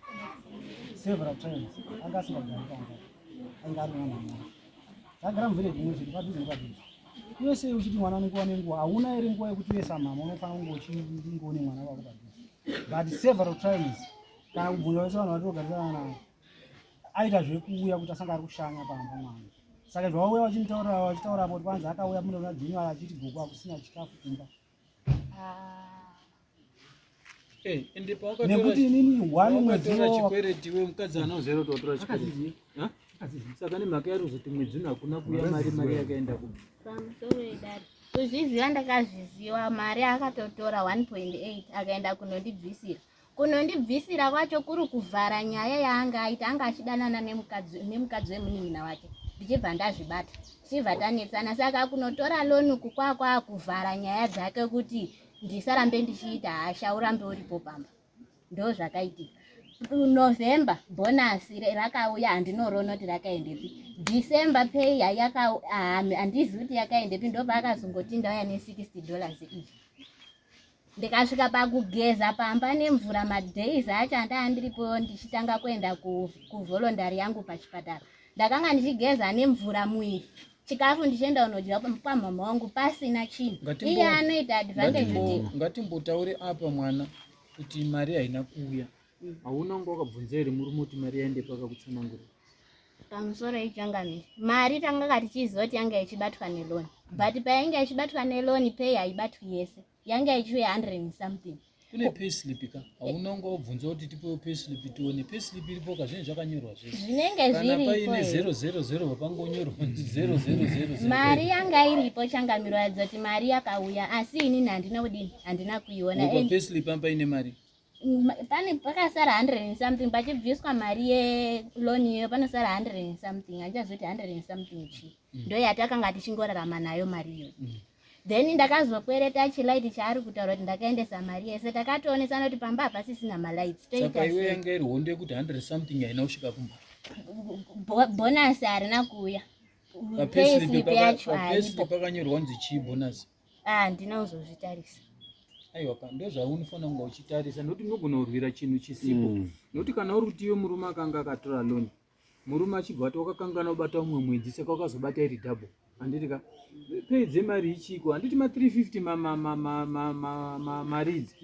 several times anga asingagari pamba ainge ari mwana mwana Ndagara muvhile dzimwe zvinhu padhuze nepadhuze. Iwe sei uchiti mwana anenge wane nguva? Hauna ere nguva yekuti uye samama unofanira kunge uchinge une mwana wako padhuze. But several times kana kubvunza vese vanhu vatogarisana navo aita zvekuuya kuti asanga ari kushanya pamba mwana. Saka zvawauya vachimutaurira vachitaura apo kwanzi akauya mune vana dzenyu achiti gogo akusina chikafu kumba. Ah. Eh, nekuti inini one mwedzi chikwereti we mukadzi anozero totora chikwereti saka nemhaka yari kuzoti mwedzi uno hakuna kuuya mari mari yakaenda ku kuzviziva ndakazviziva mari akatotora 1.8 akaenda kunondibvisira kunondibvisira kwacho kuri kuvhara nyaya yaanga aita anga achidanana nemukadzi wemunin'ina wake ndichibva ndazvibata tichibva tanetsana saka kunotora loni kukwakwa kuvhara nyaya dzake kuti ndisarambe ndichiita hasha urambe uripo pamba ndo zvakaitika november bhonasi rakauya handinoroona kuti rakaendepi december pay handizivi kuti yakaendepi ndopaakazongoti ndauya ne60 dollars iyi ndikasvika pakugeza pamba nemvura madays acho andaa ndiripo ndichitanga kuenda kuvolondari yangu pachipatara ndakanga ndichigeza nemvura muiri chikafu ndichienda unodya pamhamha wangu pasina chinhu iye anoita advantage ngatimbotaure apa mwana kuti mari haina kuuya mm. hauna kunge wakabvunza here murume kuti mari yaende paka kutsanangura pamusoro ichangamire mari tanga katichiziva kuti yanga ichibatwa neloni but payainge ichibatwa neloni pei haibatwi yese yanga yachive 100 and something kune payslip ka hauna unga wobvunza kuti tipewo payslip tione payslip iripo ka zvinenge zvakanyorwa zvese zvinenge kana paine zero zero zero papangonyorwa kuti zero zero zero mari yanga iripo changamiro yadzoti mari yakauya asi ini handina kudini handina kuiona payslip am paine mari pane pakasara 100 and something pachibviswa mari yeloan iyoyo panosara 100 and something handichazoti 100 and something chi mm. ndo yatakanga tichingorarama nayo mari iyoyo mm. then ndakazokwereta chilaiti chaari kutaura kuti ndakaendesa mari yese takatoonesana kuti pamba hapasisina malights toitaiweyanga iri hondo yekuti 100 something haina kusvika kumba bonasi harina kuuya papeslip yacho pakanyorwa kunzi chii bonasi ah handina kuzozvitarisa aiwa pa ndozvaunofana kunga uchitarisa nokuti unogona kurwira chinhu chisipo mm. nokuti kana uri kuti iwe murume akanga akatora loan murume achibva ati wakakangana kubata umwe mwedzi saka wakazobata iri double handiti ka pei dzemari ichiko handiti ma 350 maridzi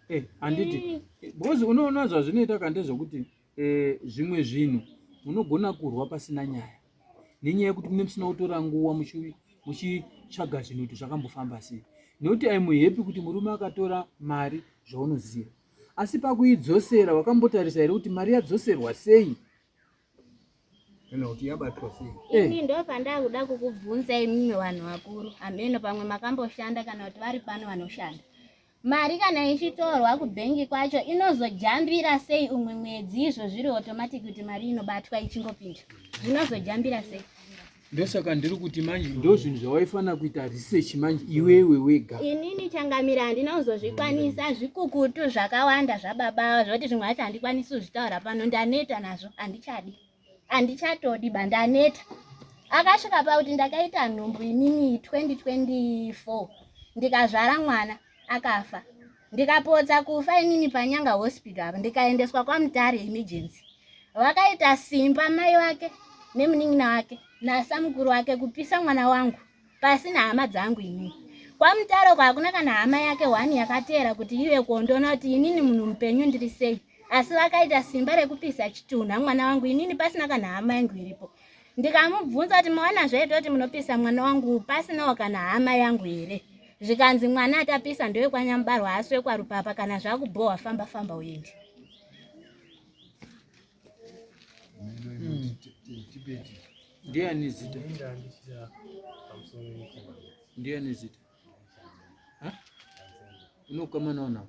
eh, handiti because unoona zvazvinoita kande zvokuti Eh, zvimwe zvinhu munogona kurwa pasina nyaya nenyaya yekuti mune musina kutora nguva muchitsvaga zvinhu kuti zvakambofamba sei nekuti aimuhepi kuti murume akatora mari zvaunoziva asi pakuidzosera wakambotarisa here kuti mari yadzoserwa sei kana kuti yabatwa sei eh. ini ndo pandakuda kukubvunza imimi vanhu vakuru hameno pamwe makamboshanda kana kuti vari pano vanoshanda Mari kana ichitorwa kubhengi kwacho inozojambira sei umwe mwedzi izvo zviri automatic kuti mari inobatwa ichingopinda zvinozojambira sei ndosaka ndiri kuti manje ndo zvinhu zvawaifanira kuita research manje iwewe wega inini changamira handina kuzozvikwanisa zvikukutu zvakawanda zvababa zvoti zvimwe hacho handikwanisi kuzvitaura pano ndaneta nazvo handichadi handichatodi ba ndaneta akasvika pakuti ndakaita nhumbu inini 2024 ndikazvara mwana akafa ndikapotsa kufa inini panyanga hospital apa ndikaendeswa kwamutare emergency vakaita simba mai vake nemunin'ina wake nasamukuru wake kupisa mwana wangu pasi nehama dzangu inini kwamutare uko hakuna kana hama yake one yakateera kuti ive kuondoona kuti inini munhu mupenyu ndiri sei asi vakaita simba rekupisa chitunha mwana wangu inini pasina kana hama yangu iripo ndikamubvunza kuti mawana zvaita kuti munopisa mwana wangu pasinawo kana hama yangu here zvikanzi mwana atapisa ndowekwanyambarwa asi wekwarupapa kana zvakubhohwa famba famba uyendi ndiani zita ndiani zita unokamanawo navo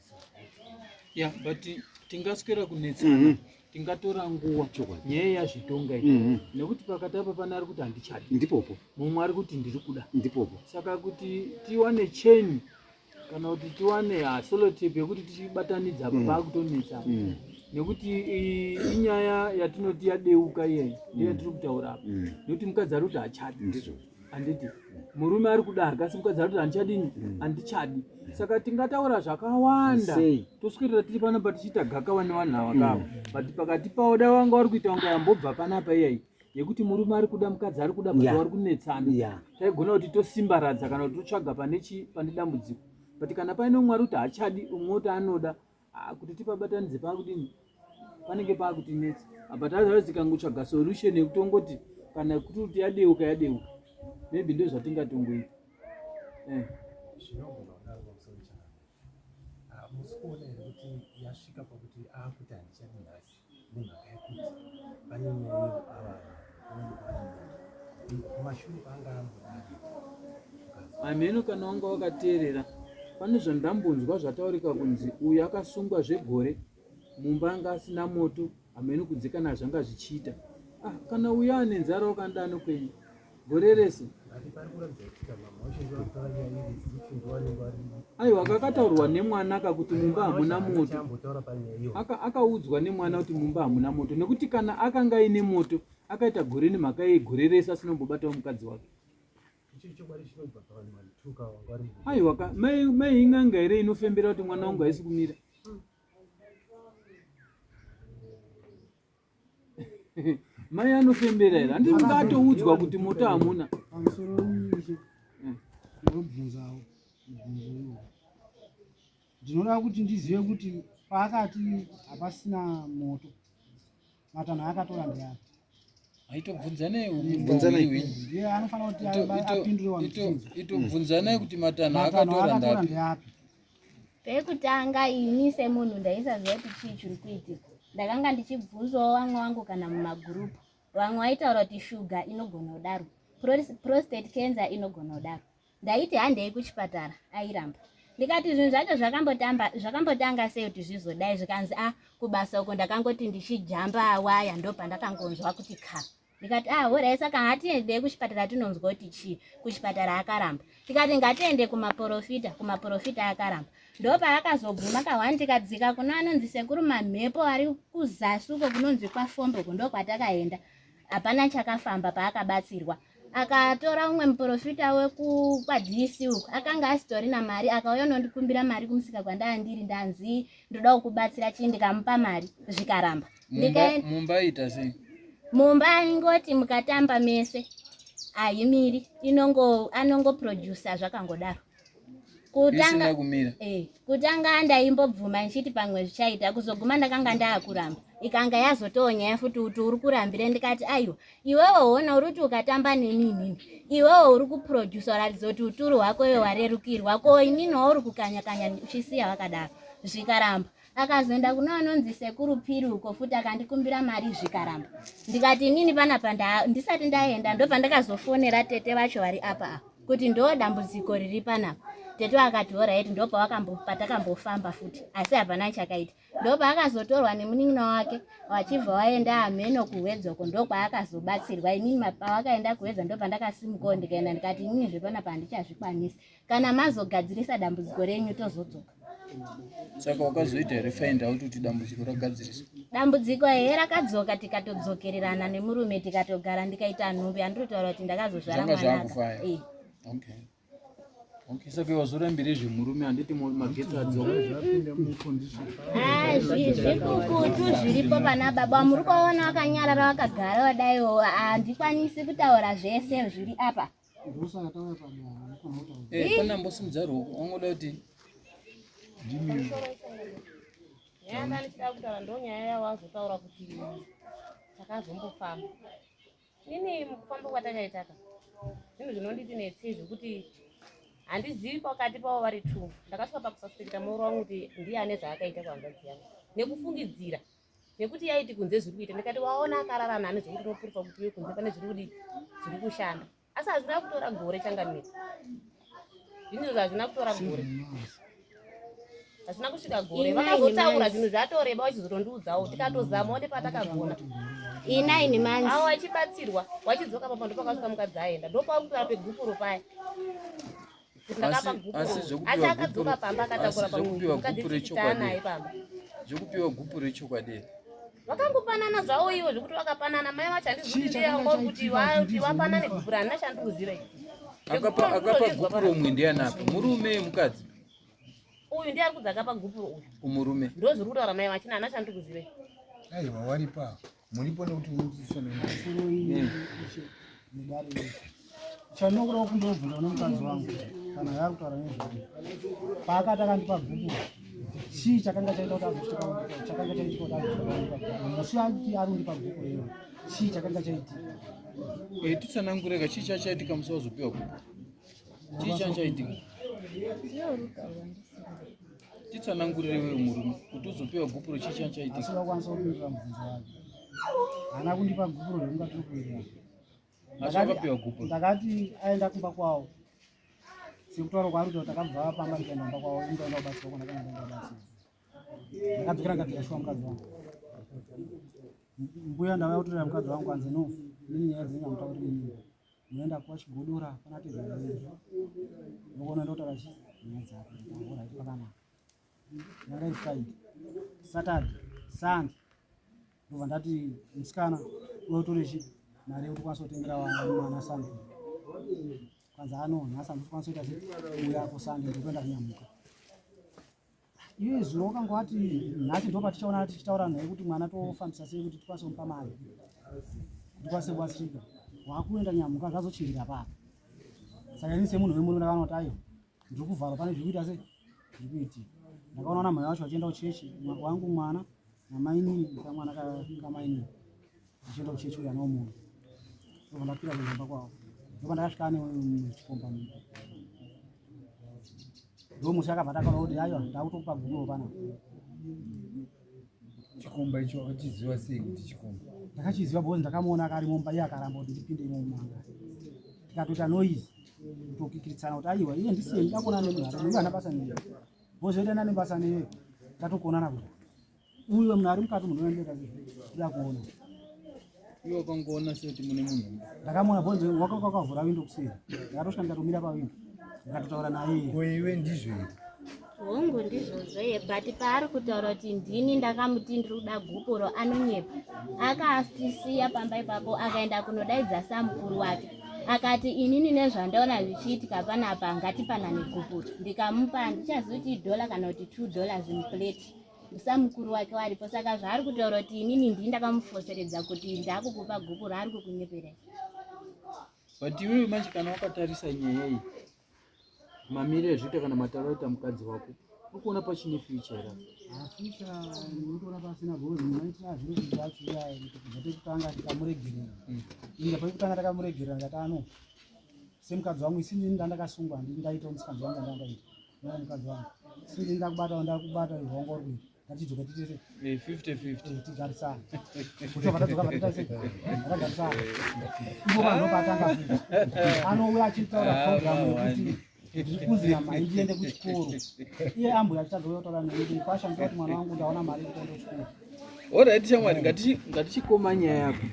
yeah but tingaswera kunetsana mm -hmm. tingatora nguva nyaya yazvitonga iyi mm -hmm. nekuti pakati apa pana ari kuti handichadi ndipopo mumwe ari kuti ndiri kuda ndipopo saka kuti tiwane cheni kana kuti tiwane hasolotape yekuti tichibatanidza apa mm. paakutonetsana mm. nekuti inyaya yatinoti yadeuka iyeyi ndiyo mm. yatiri kutaura apa mm. nekuti mukadzi ari kuti hachadi ndizvo handiti murume ari kuda hakasi mukadzi ari kuti handichadini mm. handichadi saka tingataura zvakawanda toswirira tiri panapa tichiita gakava nevanhu ava kava mm. but pakati pavo da vanga vari kuita kunge yambobva panapa iyai yekuti murume ari kuda mukadzi ari kuda baa vari kunetsana taigona kuti tosimbaradza kana kuti totsvaga pane dambudziko but kana paine umwe ari kuti hachadi umwe oti anoda Ah, kuti tipabatanidze pakudini panenge pakutinetsa apa tazaa tikangotsvaga solution yekutongoti kana kuti kuti yadeuka yadeuka maybe ndo zvatingatongoita eh. ah, musikuona here kuti yasvika pakuti akuti handichadi nhasi nemhaka yekuti pane nyaya yehuavava unenge kwaanamhaka kumashure kwaanga ambodari hameno kana wanga wakateerera pane zvandambonzwa zvataurika kunzi uyu akasungwa zvegore mumba anga asina moto hameno kunze kana zvanga zvichiita ah, kana uya ane nzara wakandano kwenyu gore rese aiwa kakataurwa nemwana ka kuti mumba hamuna moto akaudzwa nemwana kuti mumba hamuna moto nekuti kana akanga aine moto akaita gore nemhaka yegore rese asinombobatawo mukadzi wake aiwa ka mai in'anga here inofembera kuti mwana wangu haisi kumira mai anofembera here handii ungatoudzwa kuti moto hamuna ndobvunzawo mubvunzo ndinoda kuti ndizive kuti paakati hapasina moto matanho ayakatora ndeapi aitobvunzanei anofanira kuti apindure itobvunzanai kuti matanho akatora ndeapi Pekutanga ini semunhu ndaisaziva kuti chii chiri kuitika. Ndakanga ndichibvunzwawo vamwe vangu kana mumagurupu. Vamwe vaitaura kuti shuga inogona kudaro, prostate cancer inogona kudaro. Ndaiti handei kuchipatara, airamba. Ndikati zvinhu zvacho zvakambotamba zvakambotanga sei kuti zvizodai zvikanzi a ah, kubasa uko ndakangoti ndichijamba waya ndopandakangonzwa kuti kha. ndikati ah horai saka hatiendei kuchipatara tinonzwa kuti chii kuchipatara akaramba tikati ngatiende kumaporofita kumaporofita akaramba ndopaakazoguma kahwani tikadzika kuno anonzi sekuru mamhepo ari kuzasi uko kunonzi kwafombo ko ndokwatakaenda hapana chakafamba paakabatsirwa akatora umwe muporofita wekukwadc uku akanga asitori na mari akauya unondikumbira mari kumusika kwandaa ndiri ndanzi ndoda kukubatsira chii ndikamupa mari zvikaramba mumba ita sei mumba ingoti mukatamba mese ahimiri inongo anongoproducer zvakangodaro kutanga kumira eh kutanga ndaimbobvuma ndichiti pamwe zvichaita kuzoguma ndakanga ndaakuramba ikanga yazotonya yafuti kuti uri kurambira ndikati aiwa iwewe uona uri kuti ukatamba neni inini iwewe uri kuproducer uratidza kuti uturu hwako iwe warerukirwa ko inini wauri kukanya kanya uchisiya vakadaro zvikaramba akazoenda kuno anonzi sekuru piri uko futi akandikumbira mari zvikaramba ndikati inini panapa ndisati ndaenda ndopandakazofonera tete vacho vari apa apa kuti ndo dambudziko riri panapa tete vakati horaiti ndo patakambofamba futi asi hapana chakaita ndo paakazotorwa nemunin'ina wake vachibva waenda ameno kuhwedzoko ndo kwaakazobatsirwa inini pavakaenda kuhwedza ndo pandakasimukawo ndikaenda ndikati inini zvepanapa handichazvikwanisi kana mazogadzirisa dambudziko renyu tozodzoka saka wakazoita here find out kuti dambudziko ragadziriswa dambudziko here rakadzoka tikatodzokererana nemurume tikatogara ndikaita nhumbi andinotaura kuti ndakazozvara mwanazvakufaya eh. okay Okay, saka wazorambire zvemurume handiti magetsi adzoka ah, zvikukutu zviripo pana baba muri kuvaona vakanyarara vakagara vadaiwo handikwanisi kutaura zvese zviri apa Eh, kana mbosimudza ruoko wangoda kuti yanga ndichida kutaura ndo nyaya yavo azotaura kuti takazombofamba ini mukufamba kwatakaitaka zvinhu zvinonditi netsei zvekuti handizivi pakati pavo vari two ndakasvika pakusaspekita mauro wangu kuti ndiye ane zvaakaita kuhanzvadzi yangu nekufungidzira nekuti yaiti kunze zviri kuita ndikati waona akarara nani zvekuti unopurufa kuti uye kunze pane zviri kudii zviri kushanda asi hazvina kutora gore changamire zvinhu zvazvina kutora gore hazvina kusvika gore vakazotaura zvinhu zvatoreba vachizotondiudzawo tikatozama one patakagona inaini manje awo achibatsirwa wachidzoka papa ndopakasvika mukadzi aenda ndopakutora pegupuro paya zvekupiwa gupu rechokwadi iri vakangopanana zvavo ivo zvekuti vakapanana mai vacho handizviziva kuti vapanane gupu randina chandikuziva akapa gupu romwe ndianapi murume mukadzi uyu ndiye ari kudzi akapa gupu rouyu umurume ndozviri kutaura mai vachina hana chandikuziva aiwa waripa Muripo nekuti unodzidzisa nemasoro iyi mudare chanokura kundobvunza nomukadzi wangu kana yaakutaura nezvai paakati akandipa bhuku chii chakanga chaita kuti azotika chakanga chaita kuti azotika musi ati ari kundipa bhuku rino chii chakanga chaitika eh, titsanangureka chii chachaitika musi wazopiwa bhuku chii chachaitika titsanangurire wewe murume kuti uzopiwa gupuro chii chani chaitika asi vakwanisa kupindura mubvunzo wake haana kundipa gupuro rekunga tiri kuenda asi wakapiwa gupuro ndakati aenda kumba kwavo sekutaura kwaari kuti takabva pamba ndikaenda kumba kwavo indaenda kubatsirwa kona kana ndaenda kubatsirwa ndakadzokera ndikatikashuwa mukadzi wangu mbuya ndavaya kutorera mukadzi wangu anzi no nini nyaya dzenyu hamutauri nini unoenda kwa Chigodora kuna Tezvara vedu ndokona ndotaura chi nyaya dzako ndikahora iti pakanaka yanga iri Friday Saturday Sunday ndobva ndati musikana unotori chi mari yekuti kwanisa kutengera mwana Sunday kwanza ano nhasi andikwanisa kuita sei uya ku Sunday ndokuenda kunyamuka iye zuro wakanga wati nhati ndo patichaona tichitaura naye kuti mwana tofambisa sei kuti tikwanise kumupa mari tikwanise kubatsirika wakuenda nyamuka zvazochinjira papa saka ini semunhu wemurume ndakanoti ayo ndiri kuvharwa pane zviri kuita se zviri kuitika ndakaona na mhai wacho vachienda kuchechi wangu mwana namainini kamwana kamainini ndichienda kuchechi kuya nao munhu ndobva ndapinda kuimba kwavo ndobva ndakasvika ane chikomba mumba ndomusi akabva takaona kuti aiwa ndakutokupa guruwo pana chikomba icho achiziva sei kuti chikomba ndakachiziva because ndakamuona akari mumba iye akaramba kuti ndipinde imo mumanga tikatoita noise kutokikiritsana kuti aiwa iye ndisiye ndakuona nemunhu ari uyu ana basa neiye bozoita nane basa neiye tatokuonana kuti Uyo munhu ari mukati munhu anoenda kuda kuona. Iwe ukangoona sekuti mune munhu. Ndakamuona bonzo wakakavhura windo kuseri. Ndakatosvika ndikatomira pawindo. Ndikatotaura naye. Ko iwe ndizvo here? hongu ndizvozvo ye but paari kutaura kuti ndini ndakamuti ndiri kuda gupuro anonyepa akaasisiya pamba ipapo akaenda kunodaidza samukuru wake akati inini nezvandaona zvichiitika panapa ngatipanane gupuro ndikamupa handichazivi kuti idhola kana kuti two dollars muplate musamukuru wake waripo saka zvaari kutaura kuti inini ndii ndakamufoseredza kuti ndakukupa guku raari kukunyeperei but iwewe manje kana wakatarisa nyaya iyi mamiri ezvita kana mataro aita mukadzi wako uri kuona pachine future ra ndikuona pasina gozi maitira zviro zvacho iyaya kuti kubva pekutanga tikamuregerera hmm. inga pekutanga takamuregerera ndatano semukadzi wangu isini ndandakasungwa ndindaitawo musikadzi wangu ndandakaita mukadzi wangu sii ndakubata ndakubata rwongo rwii ngatidzoka titete eh, fifty fifty eh, tigarisana kuti vakatadzoka vatitaise vakagarisana ivo vanhu vatanga anouya achitaura ah, programu yekuti ndikuzi nyama ndiende kuchikoro iye ambuya achitadzoka kutaura nekuti kwasha mtoa kuti mwana wangu ndaona mari yekuenda kuchikoro orit shamwari ngatichikoma nyaya yako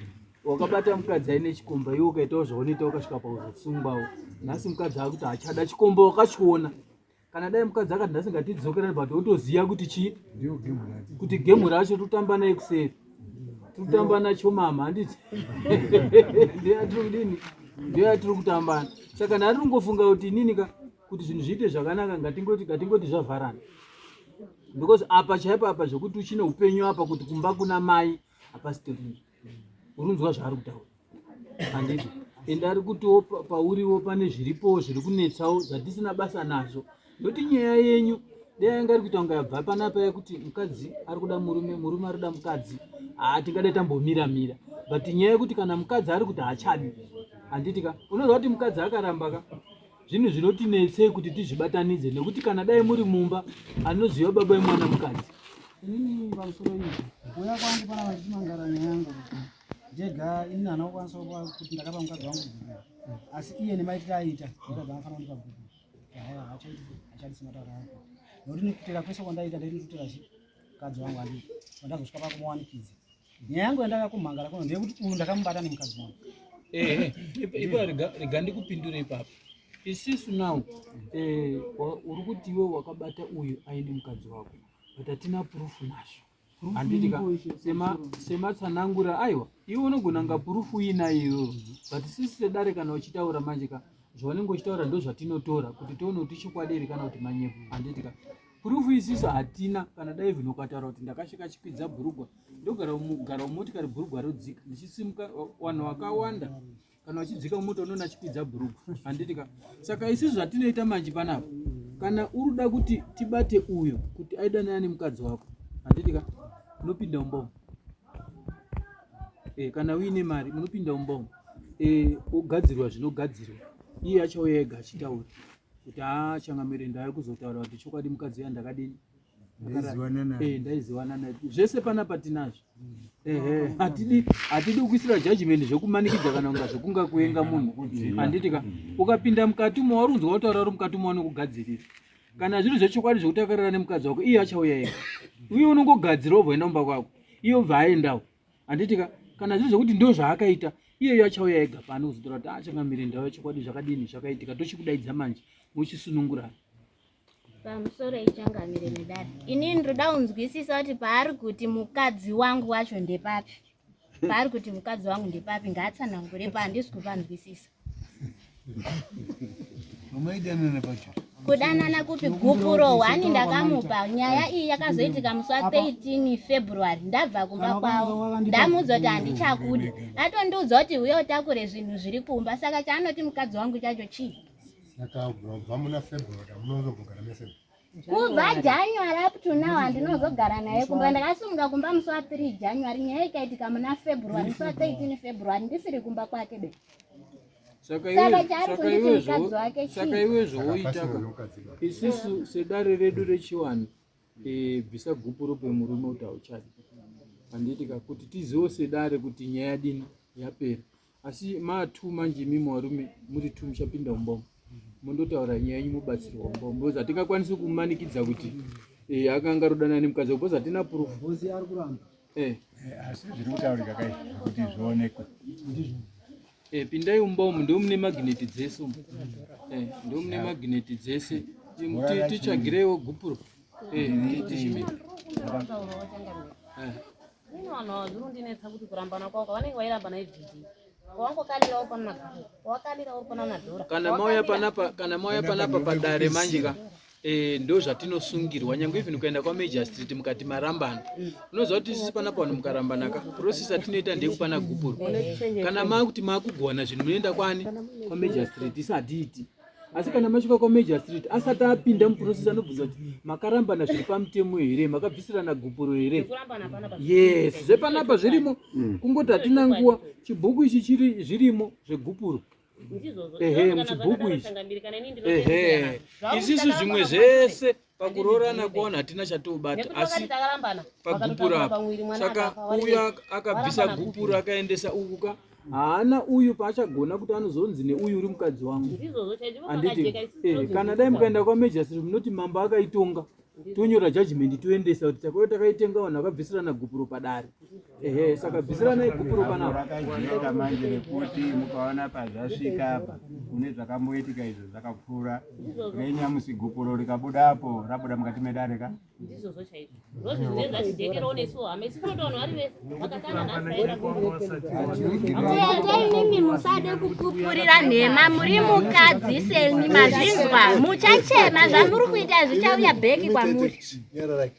wakabata mukadzi aine chikomba iwe ukaitawo zvaunoita ukasvika pauzosungwawo nhasi mukadzi akuti hachada chikomba wakachiona kana dai mukadzi akati nhasi ngatidzokerani but wotoziva kuti chii kuti gemu racho totamba naye kuseri totamba nacho mama handiti ndeatiri kudini ndeatiri kutambana saka nari ungofunga kuti inini ka kuti zvinhu zviite zvakanaka ngatingoti ngatingoti zvavharana because apa chaipo apa zvekuti uchine upenyu apa kuti kumba kuna mai hapasitorina unonzwa zvaari kutaura handiti ende ari kutiwo pa- pauriwo pane zviripowo zviri kunetsawo zvatisina basa nazvo nekuti nyaya yenyu dai yanga ari kuita kunge yabva panapa yekuti mukadzi ari kuda murume murume ari kuda mukadzi haa tingadai tambomira mira but nyaya yekuti kana mukadzi ari kuti haachadi handiti ka unoziva kuti mukadzi akaramba ka zvinhu zvinotinetsei kuti tizvibatanidze nekuti kana dai muri mumba anoziva baba vemwana mukadzi inini pamusoro izvi kuuya kwangu pana vachimangara nyaya yangu ndega inini hana kukwanisa kuti ndakapa mukadzi wangu bhuku asi iye nemaitiro aita aa dzangafanira kundipa bhuku haya hachaiti hachadisi mataura ako nokuti nekutera kwese kwandaita ndaiti ndikutera chi mukadzi wangu andii vandazosvika pakumuwanikidza nyaya yangu yandaka kumhangara kuno ndeyekuti uyu ndakamubata nemukadzi wangu eh, eh, eh, ipo rega ndikupindure ipapo isisu now uri kuti iwe wakabata uyu aine mukadzi wako but hatina purufu nazvo handitika sematsanangura aiwa iwe unogona nga purufu uinayo but sisi sedare kana uchitaura manje ka zvaunenge uchitaura ndozvatinotora kuti tione kuti chikwadi here kana kuti manyepo handitika Proof isisu hatina kana dai even ukataura kuti ndakasheka chikwidza bhurugwa ndogara mugara mumotikari bhurugwa rodzika ndichisimuka wanhu wakawanda kana wachidzika mumota unoona chikwidza bhurugwa handiti ka saka isisu zvatinoita manje panapa kana uri kuda kuti tibate uyo kuti aidanana nemukadzi wako handiti ka unopinda umbomo e, eh, kana uine mari munopinda umbomo e, eh, ogadzirwa zvinogadzirwa iye achauya ega achitaura kuti haa changamire ndave kuzotaura kuti chokwadi mukadzi uya ndakadini eh, ndaizivana naye zvese panapa tinazvo ehe hatidi hatidi kuisira judgment zvekumanikidza kana kunga zvekunga kuenga munhu handiti ka ukapinda mukati umo wari unzwa kutaura uri mukati umo wanokugadzirira kana zviri zvechokwadi zvekutakarira nemukadzi wako iye achauya ega uye unongogadzira wobva enda kumba kwako iye obva aendawo handiti ka kana zviri zvekuti ndo zvaakaita iyeyo achauya ega pano kuzotora kuti achangamire ndau yachokwadi zvakadini zvakaitika tochikudaidza manje muchisunungurana pamusoro ichangamire medari ini ndinoda kunzwisisa kuti paari kuti mukadzi wangu wacho ndepapi paari kuti mukadzi wangu ndepapi ngaatsanangure paandisi kupanzwisisa kudanana kupi gupuro wani ndakamupa nyaya iyi yakazoitika musi wa 13 february ndabva kumba kwavo ndamuudza kuti handichakudi atondiudza kuti uye utakure zvinhu zviri kumba saka chaanoti mukadzi wangu chacho chii kubva january up to now handinozogara naye kumba ndakasumuka kumba musi wa 3 january nyaya ikaitika muna february musi wa 13 february ndisiri kumba kwake be saka iwe zvooitaka isisu sedare redu rechiwani eh, bvisa gupuro pemurume kuti hauchadi handiti ka kuti tiziwo sedare kuti nyaya dini yapera asi ma two manje imimi varume muri two muchapinda umbombo mondotaura nyaya yenyu mobatsirwa umbombo because hatingakwanisi kumanikidza kuti eh, akanga arodanana nemukadzi because hatina proof Ngozi ari kuramba. eh, Eh, asi zviri kutaurika kai kuti zvionekwe eh, pindai umbombo ndo mune magneti dzese umu eh, ndo mune magneti dzese Im- ti- tichagireiwo gupuro eh, ti- tichimbi- eh, Ini vanhu ava zviri kundinetsa kuti kurambana kwavo kwavanenge vairambana ibvidi wawangokalira uri pana madhora wakalira uri pana madhora kana mauya panapa kana mauya panapa padare manje ka eh, ndo zvatinosungirwa nyange even kuenda kwamajistrate mukati marambana mm. unoziva kuti sisi panapa vanhu mukarambana ka process atinoita ndeyekupana gupuro kana maakuti maakugona zvinhu munoenda kwani kwamajistrate isadiiti asi kana masvika kwamajor street asati apinda muprocess anobvunza kuti makarambana zviri pamutemo here makabvisirana gupuro here yes zvepanapa zvirimo mm. kungoti hatina nguva chibhuku ichi chiri zvirimo zvegupuro ehe muchibhuku ichi ehe izvizvi zvimwe zvese pakuroorana kuona hatina chatoubata asi pagupura apa saka uyu akabvisa gupura akaendesa uku ka haana uyu paachagona kuti anozonzi neuyu uri mukadzi wangu handiti eh, kana dai mukaenda kwamejasiri munoti mambo akaitonga tonyora judgment toendesa kuti takauya takaitenga vanhu vakabvisirana gupuro padare ehe saka bvisiranai gupuro panapa rakajieka manje rekuti mukaona pazvasvika apa kune zvakamboitika izvo zvakapfuura renyamusi gupuro rikabuda apo rabuda mukati medare ka ndizvozvo chaizvo ndozvo zvinenge zvachijekerewo nesu hama isi kunoto vanhu vari vese vakatana nhasiainimi musade kupupurira nhema muri mukadzi semi mazvinzwa muchachema zvamuri kuita zvichauya bheki kwamuri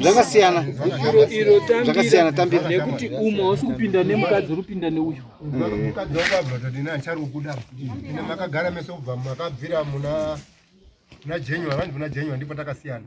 zvakasiyana zvakasiyana tambira nekuti umwe hausi kupinda nemukadzi uri kupinda neuyu mukadzi wangu abvatodini achari kukuda ine makagara mese kubva makabvira muna na january vanzi muna january ndipo takasiyana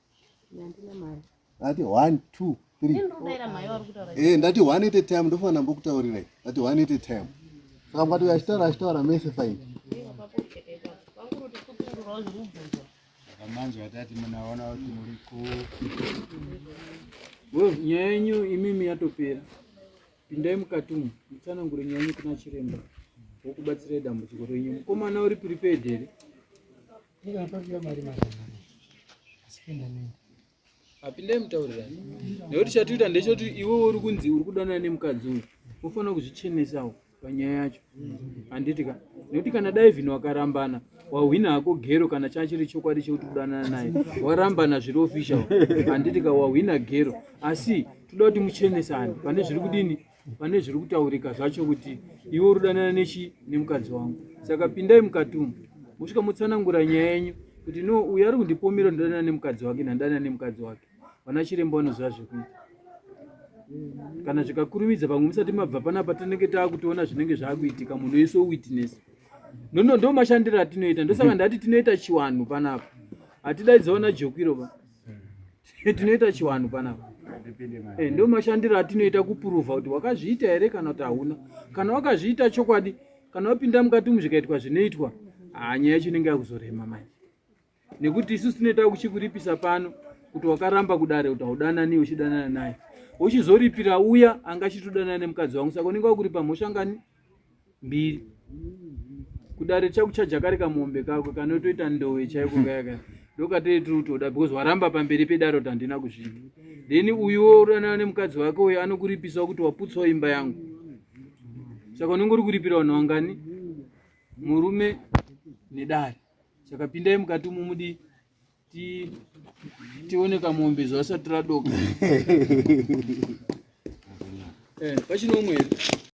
ndati one two three eh ndati one at a time ndofana ndambokutaurirai ndati one at a time saka mukati uyo achitaura achitaura mese fine manje atati munaona kuti muri ku nyaya yenyu imimi yatopera pindai mukati umu mutsanangure nyaya yenyu kuna chiremba wokubatsirai dambudziko renyu mukomana uri prepared here apinde mutaurirani nekuti chatiita ndechoti iwe uri kunzi uri kudanana nemukadzi uyu unofanira kuzvichenesawo panyaya yacho handiti ka nekuti kana daivhini wakarambana wahwina hako gero kana chachiri chokwadi chekuti kudanana naye warambana zviri official handiti ka wahwina gero asi toda kuti muchenesane pane zviri kudini pane zviri kutaurika zvacho kuti iwe uri kudanana nechi nemukadzi wangu saka pindai mukati umu mosvika motsanangura nyaya yenyu kuti no uyu ari kundipomera ndodanana nemukadzi wake nhandanana nemukadzi wake vana chiremba vanoziva zvekuita kana zvikakurumidza pamwe musati mabva panapa tinenge taakutoona zvinenge zvaakuitika munhu wese witness nono ndo mashandiro atinoita ndosaka ndati tinoita chiwanhu panapa hatidaidzavana jokwiro pa tinoita chiwanhu panapa eh, ndo mashandiro atinoita kupuruvha kuti wakazviita here kana kuti hauna kana wakazviita chokwadi kana wapinda mukati umu zvikaitwa zvinoitwa hanyaya yacho inenge yakuzorema manje nekuti isu tinoita kuchikuripisa pano kuti wakaramba kudare kuti haudanani uchidanana naye uchizoripira uya anga achitodanana nemukadzi wangu saka unenge wakuripa mhosva ngani mbiri kudare chakuchaja kari kamombe kako kanotoita ndowe chaiko kayaka ndokatei tiri kutoda because waramba pamberi pedare kuti handina kuzvida then uyuwo uranana nemukadzi wake uyo anokuripisawo kuti waputsawo imba yangu saka unenge uri kuripira vanhu vangani murume nedare saka pindai mukati umu mudi tione kamombe zvasati radoka eh, pachine umwe here